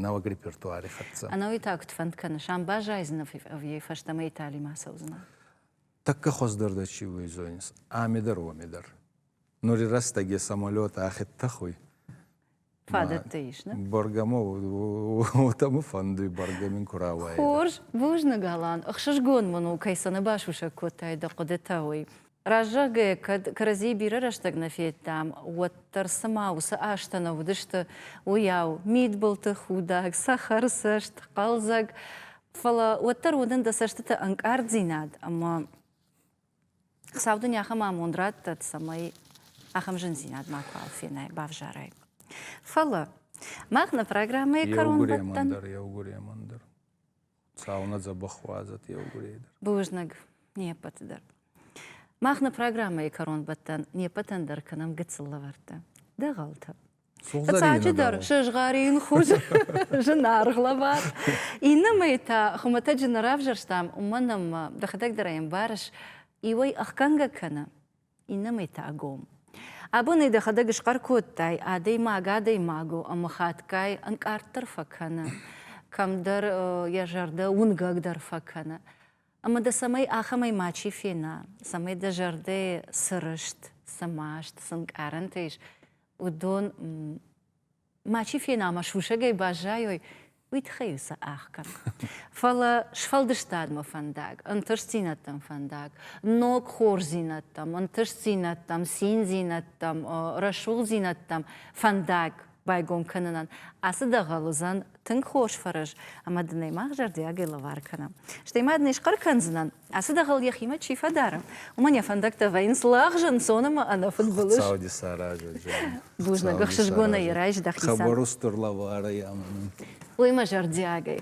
Speaker 2: нӕуӕг репертуари хӕццӕ. Ӕнӕуи та куд фӕнд
Speaker 1: кӕныс, ам баззайдзӕнӕ ӕви фӕстӕмӕ Италимӕ ацӕудзӕнӕ? Тӕккӕ
Speaker 2: хуӕздӕр дӕ чи уй, зонис, ами дӕр уоми дӕр. Нури рӕстӕги самолет ӕхе тӕхуй.
Speaker 1: Фадӕттӕ ис, нӕ? Баргамов,
Speaker 2: уотӕ мӕ фӕндуй баргамин ку рауайа. Хорз, бузныг,
Speaker 1: Алан. Ӕхсызгон мын у, кӕй сӕнӕбасусӕг кодтай дӕ хъуыдытӕ, уый. Раззагӕй кӕд кӕрӕдзийы бирӕ рӕстӕг нӕ федтам, уӕддӕр цыма уыцы азтӕ нӕ уыдысты, уыйау, мидбылты худӕг, цӕхӕрцӕст, хъӕлдзӕг. Фӕлӕ уӕддӕр уыдн дӕ цӕстыты ӕнкъарддзинад ӕмӕ Сау дын ахӕм амонд радтӕд, цӕмӕй ахӕм зындзинад макуал фенай, бавзарай. Фӕлӕ мах нӕ программӕйы кӕронбӕттӕн дӕр, еугуремӕн
Speaker 2: дӕр. Цау нӕ дзӕбӕх уадзӕт еугурей дӕр. Бузныг
Speaker 1: не ппӕты дӕр. Мах нӕ программӕйы кӕронбӕттӕн не ппӕтӕн дӕр кӕнӕм гыццыл лӕвӕрттӕ. Дӕ гъӕлтӕ. Фыццаджыдӕр, сызгъӕрин хуыз, зынаргъ лӕвар. Иннӕмӕй та хуымӕтӕджы нӕ равзӕрстам, уымӕн ӕмӕ дӕхӕдӕг дӕр ӕй ӕмбарыс, иуӕй ӕхгӕнгӕ кӕны, иннӕмӕй та гом. Абонӕй дӕхӕдӕг схъӕр кодтай, адӕймаг адӕймагу ӕмӕ хатгай ӕнкъарддӕр фӕкӕны, кӕмдӕр йӕ зӕрдӕ уынгӕгдӕр фӕкӕны. Ӕмӕ дӕ цӕмӕй ахӕмӕй мачи фена, цӕмӕй дӕ зӕрдӕйы цы рыст, цы маст, цы нкъарӕнтӕ ис, уыдон мачи фена мӕ сусӕгӕй баззайой, уый тыххӕй-иу сӕ ӕхгӕн. Фӕлӕ сфӕлдыстадмӕ фӕндаг, ӕнтыстдзинӕдтӕм фӕндаг, ног хорздзинӕдтӕм, ӕнтыстдзинӕдтӕм, циндзинӕдтӕм, рӕсугъддзинӕдтӕм фӕндаг байгом кӕнынӕн ацы дӕгъӕл уыдзӕн тынг хорз фӕрӕз, ӕмӕ дын ӕй мах зӕрдиагӕй лӕвар кӕнӕм. Стӕй ма дын ӕй схъӕр кӕндзынӕн, ацы дӕгъӕл йӕхимӕ чи фӕдары, уымӕн йӕ фӕндӕгтӕ вӕййынц лӕгъз ӕнцон ӕмӕ ӕнӕфыдбылыз. Сауди саразӕджы.
Speaker 2: Бузныг,
Speaker 1: ӕхсызгонӕй райсдӕх дисӕн. Хъӕбӕр устур лӕварӕй
Speaker 2: ӕмӕ нын. Уый мӕ
Speaker 1: зӕрдиагӕй.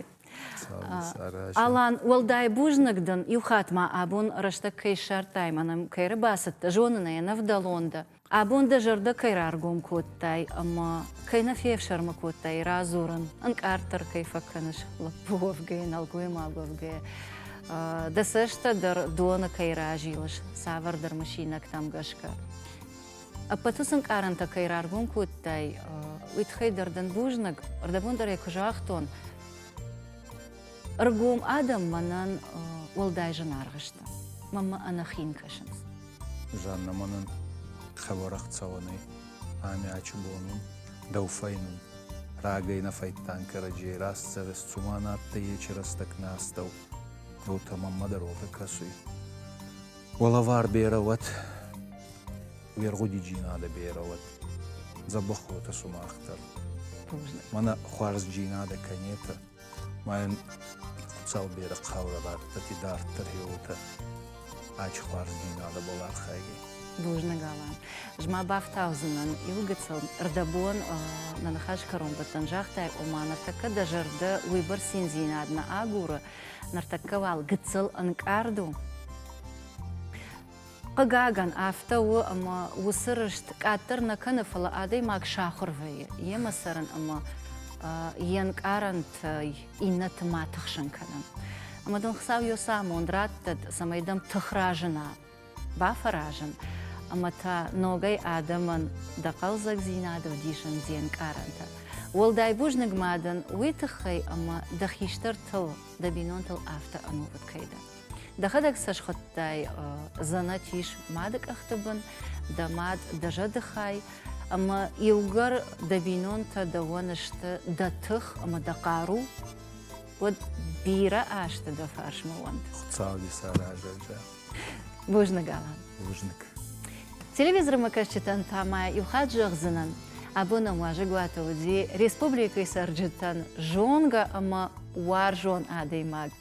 Speaker 1: Алан, уӕлдай бузныг дын, иу хатт ма абон рӕстӕг кӕй ссардтай, мӕнӕ кӕй ӕрбацыдтӕ, зонын ӕй, ӕнӕвдӕлон дӕ. Абон дӕ зӕрдӕ кӕй раргом кодтай ӕмӕ кӕй нӕ фефсӕрмы кодтай радзурын, ӕнкъарддӕр кӕй фӕкӕныс лӕппу уӕвгӕйӕ, нӕлгоймаг уӕвгӕйӕ, дӕ цӕстӕ дӕр доны кӕй разилыс цавӕрдӕр мысинӕгтӕм гӕсгӕ. Ӕппӕты сын къарӕнтӕ кӕй раргом кодтай, уый тыххӕй дӕр дын бузныг. Рдӕбон дӕр ӕй куы загътон, Ӕргом адӕм мӕнӕн уӕлдай зынаргъ сты. Мӕн мӕ ӕнӕхин кӕсынц. Жанна
Speaker 2: мӕнӕн хӕбарах цӕуӕн ӕй, ами ачи бон ун, дӕу фӕйнун. Рагӕй нӕ фӕйттан кӕрӕдзей рӕстдзӕвес, цума надтӕй ечи рӕстӕг нӕ астӕу. Ротӕ мӕммӕ дӕр уотӕ кӕсуй. Уӕлӕвар берӕ уӕд, уе ргъудиджийнадӕ берӕ уӕд, дзӕбӕх уотӕ сумах дӕр. Мӕнӕ хуарзджийнадӕ кӕнетӕ. Майын Хуцаубери хъаурӕвӕрдтити дарддӕр еутӕ ачхуардзийнадӕ балархайгӕй. Бузныг,
Speaker 1: Алан. Ӕз ма бафтаудзынӕн иу гыццыл. Рдӕбон нӕ ныхасы кӕронбӕттӕн загътай, ома ныртӕккӕ дӕ зӕрдӕ уыйбӕрц циндзинад нӕ агуры, ныртӕккӕ уал гыццыл ӕнкъард у. Хъыгагӕн, афтӕ у ӕмӕ уыцы рыст къаддӕр нӕ кӕны, фӕлӕ адӕймаг сахуыр вӕййы йемӕ цӕрын ӕмӕ йе нкъарӕнтӕй иннӕты ма тыхсын кӕнын. Ӕмӕ дын Хуыцау йӕ цы амонд радтӕд, цӕмӕй дӕм тых разына, бафӕразын ӕмӕ та ногӕй адӕмӕн дӕ хъӕлдзӕгдзинады вдисын де нкъарӕнтӕ. Уӕлдай бузныг ма дын уый тыххӕй, ӕмӕ дӕ хистӕртыл, дӕ бинонтыл афтӕ ӕнувыд кӕй дӕ. Дӕхӕдӕг цӕсгъуыдтӕй дзӕнӕт ис мады къӕхты бын, дӕ мад дӕ зӕдыхай, ӕмӕ иугӕр дӕ бинонтӕ дӕуӕн сты дӕ тых ӕмӕ дӕ хъару, уӕд бирӕ азты дӕ фарсмӕ уӕнт. Хуыцауи
Speaker 2: саразӕджы. Бузныг,
Speaker 1: Алан. Бузныг. Телевизормӕкӕсджытӕн та ма иу хатт зӕгъдзынӕн, абон ӕм уазӕгуаты уыди республикӕйы цӕрджытӕн зонгӕ ӕмӕ уарзон адӕймаг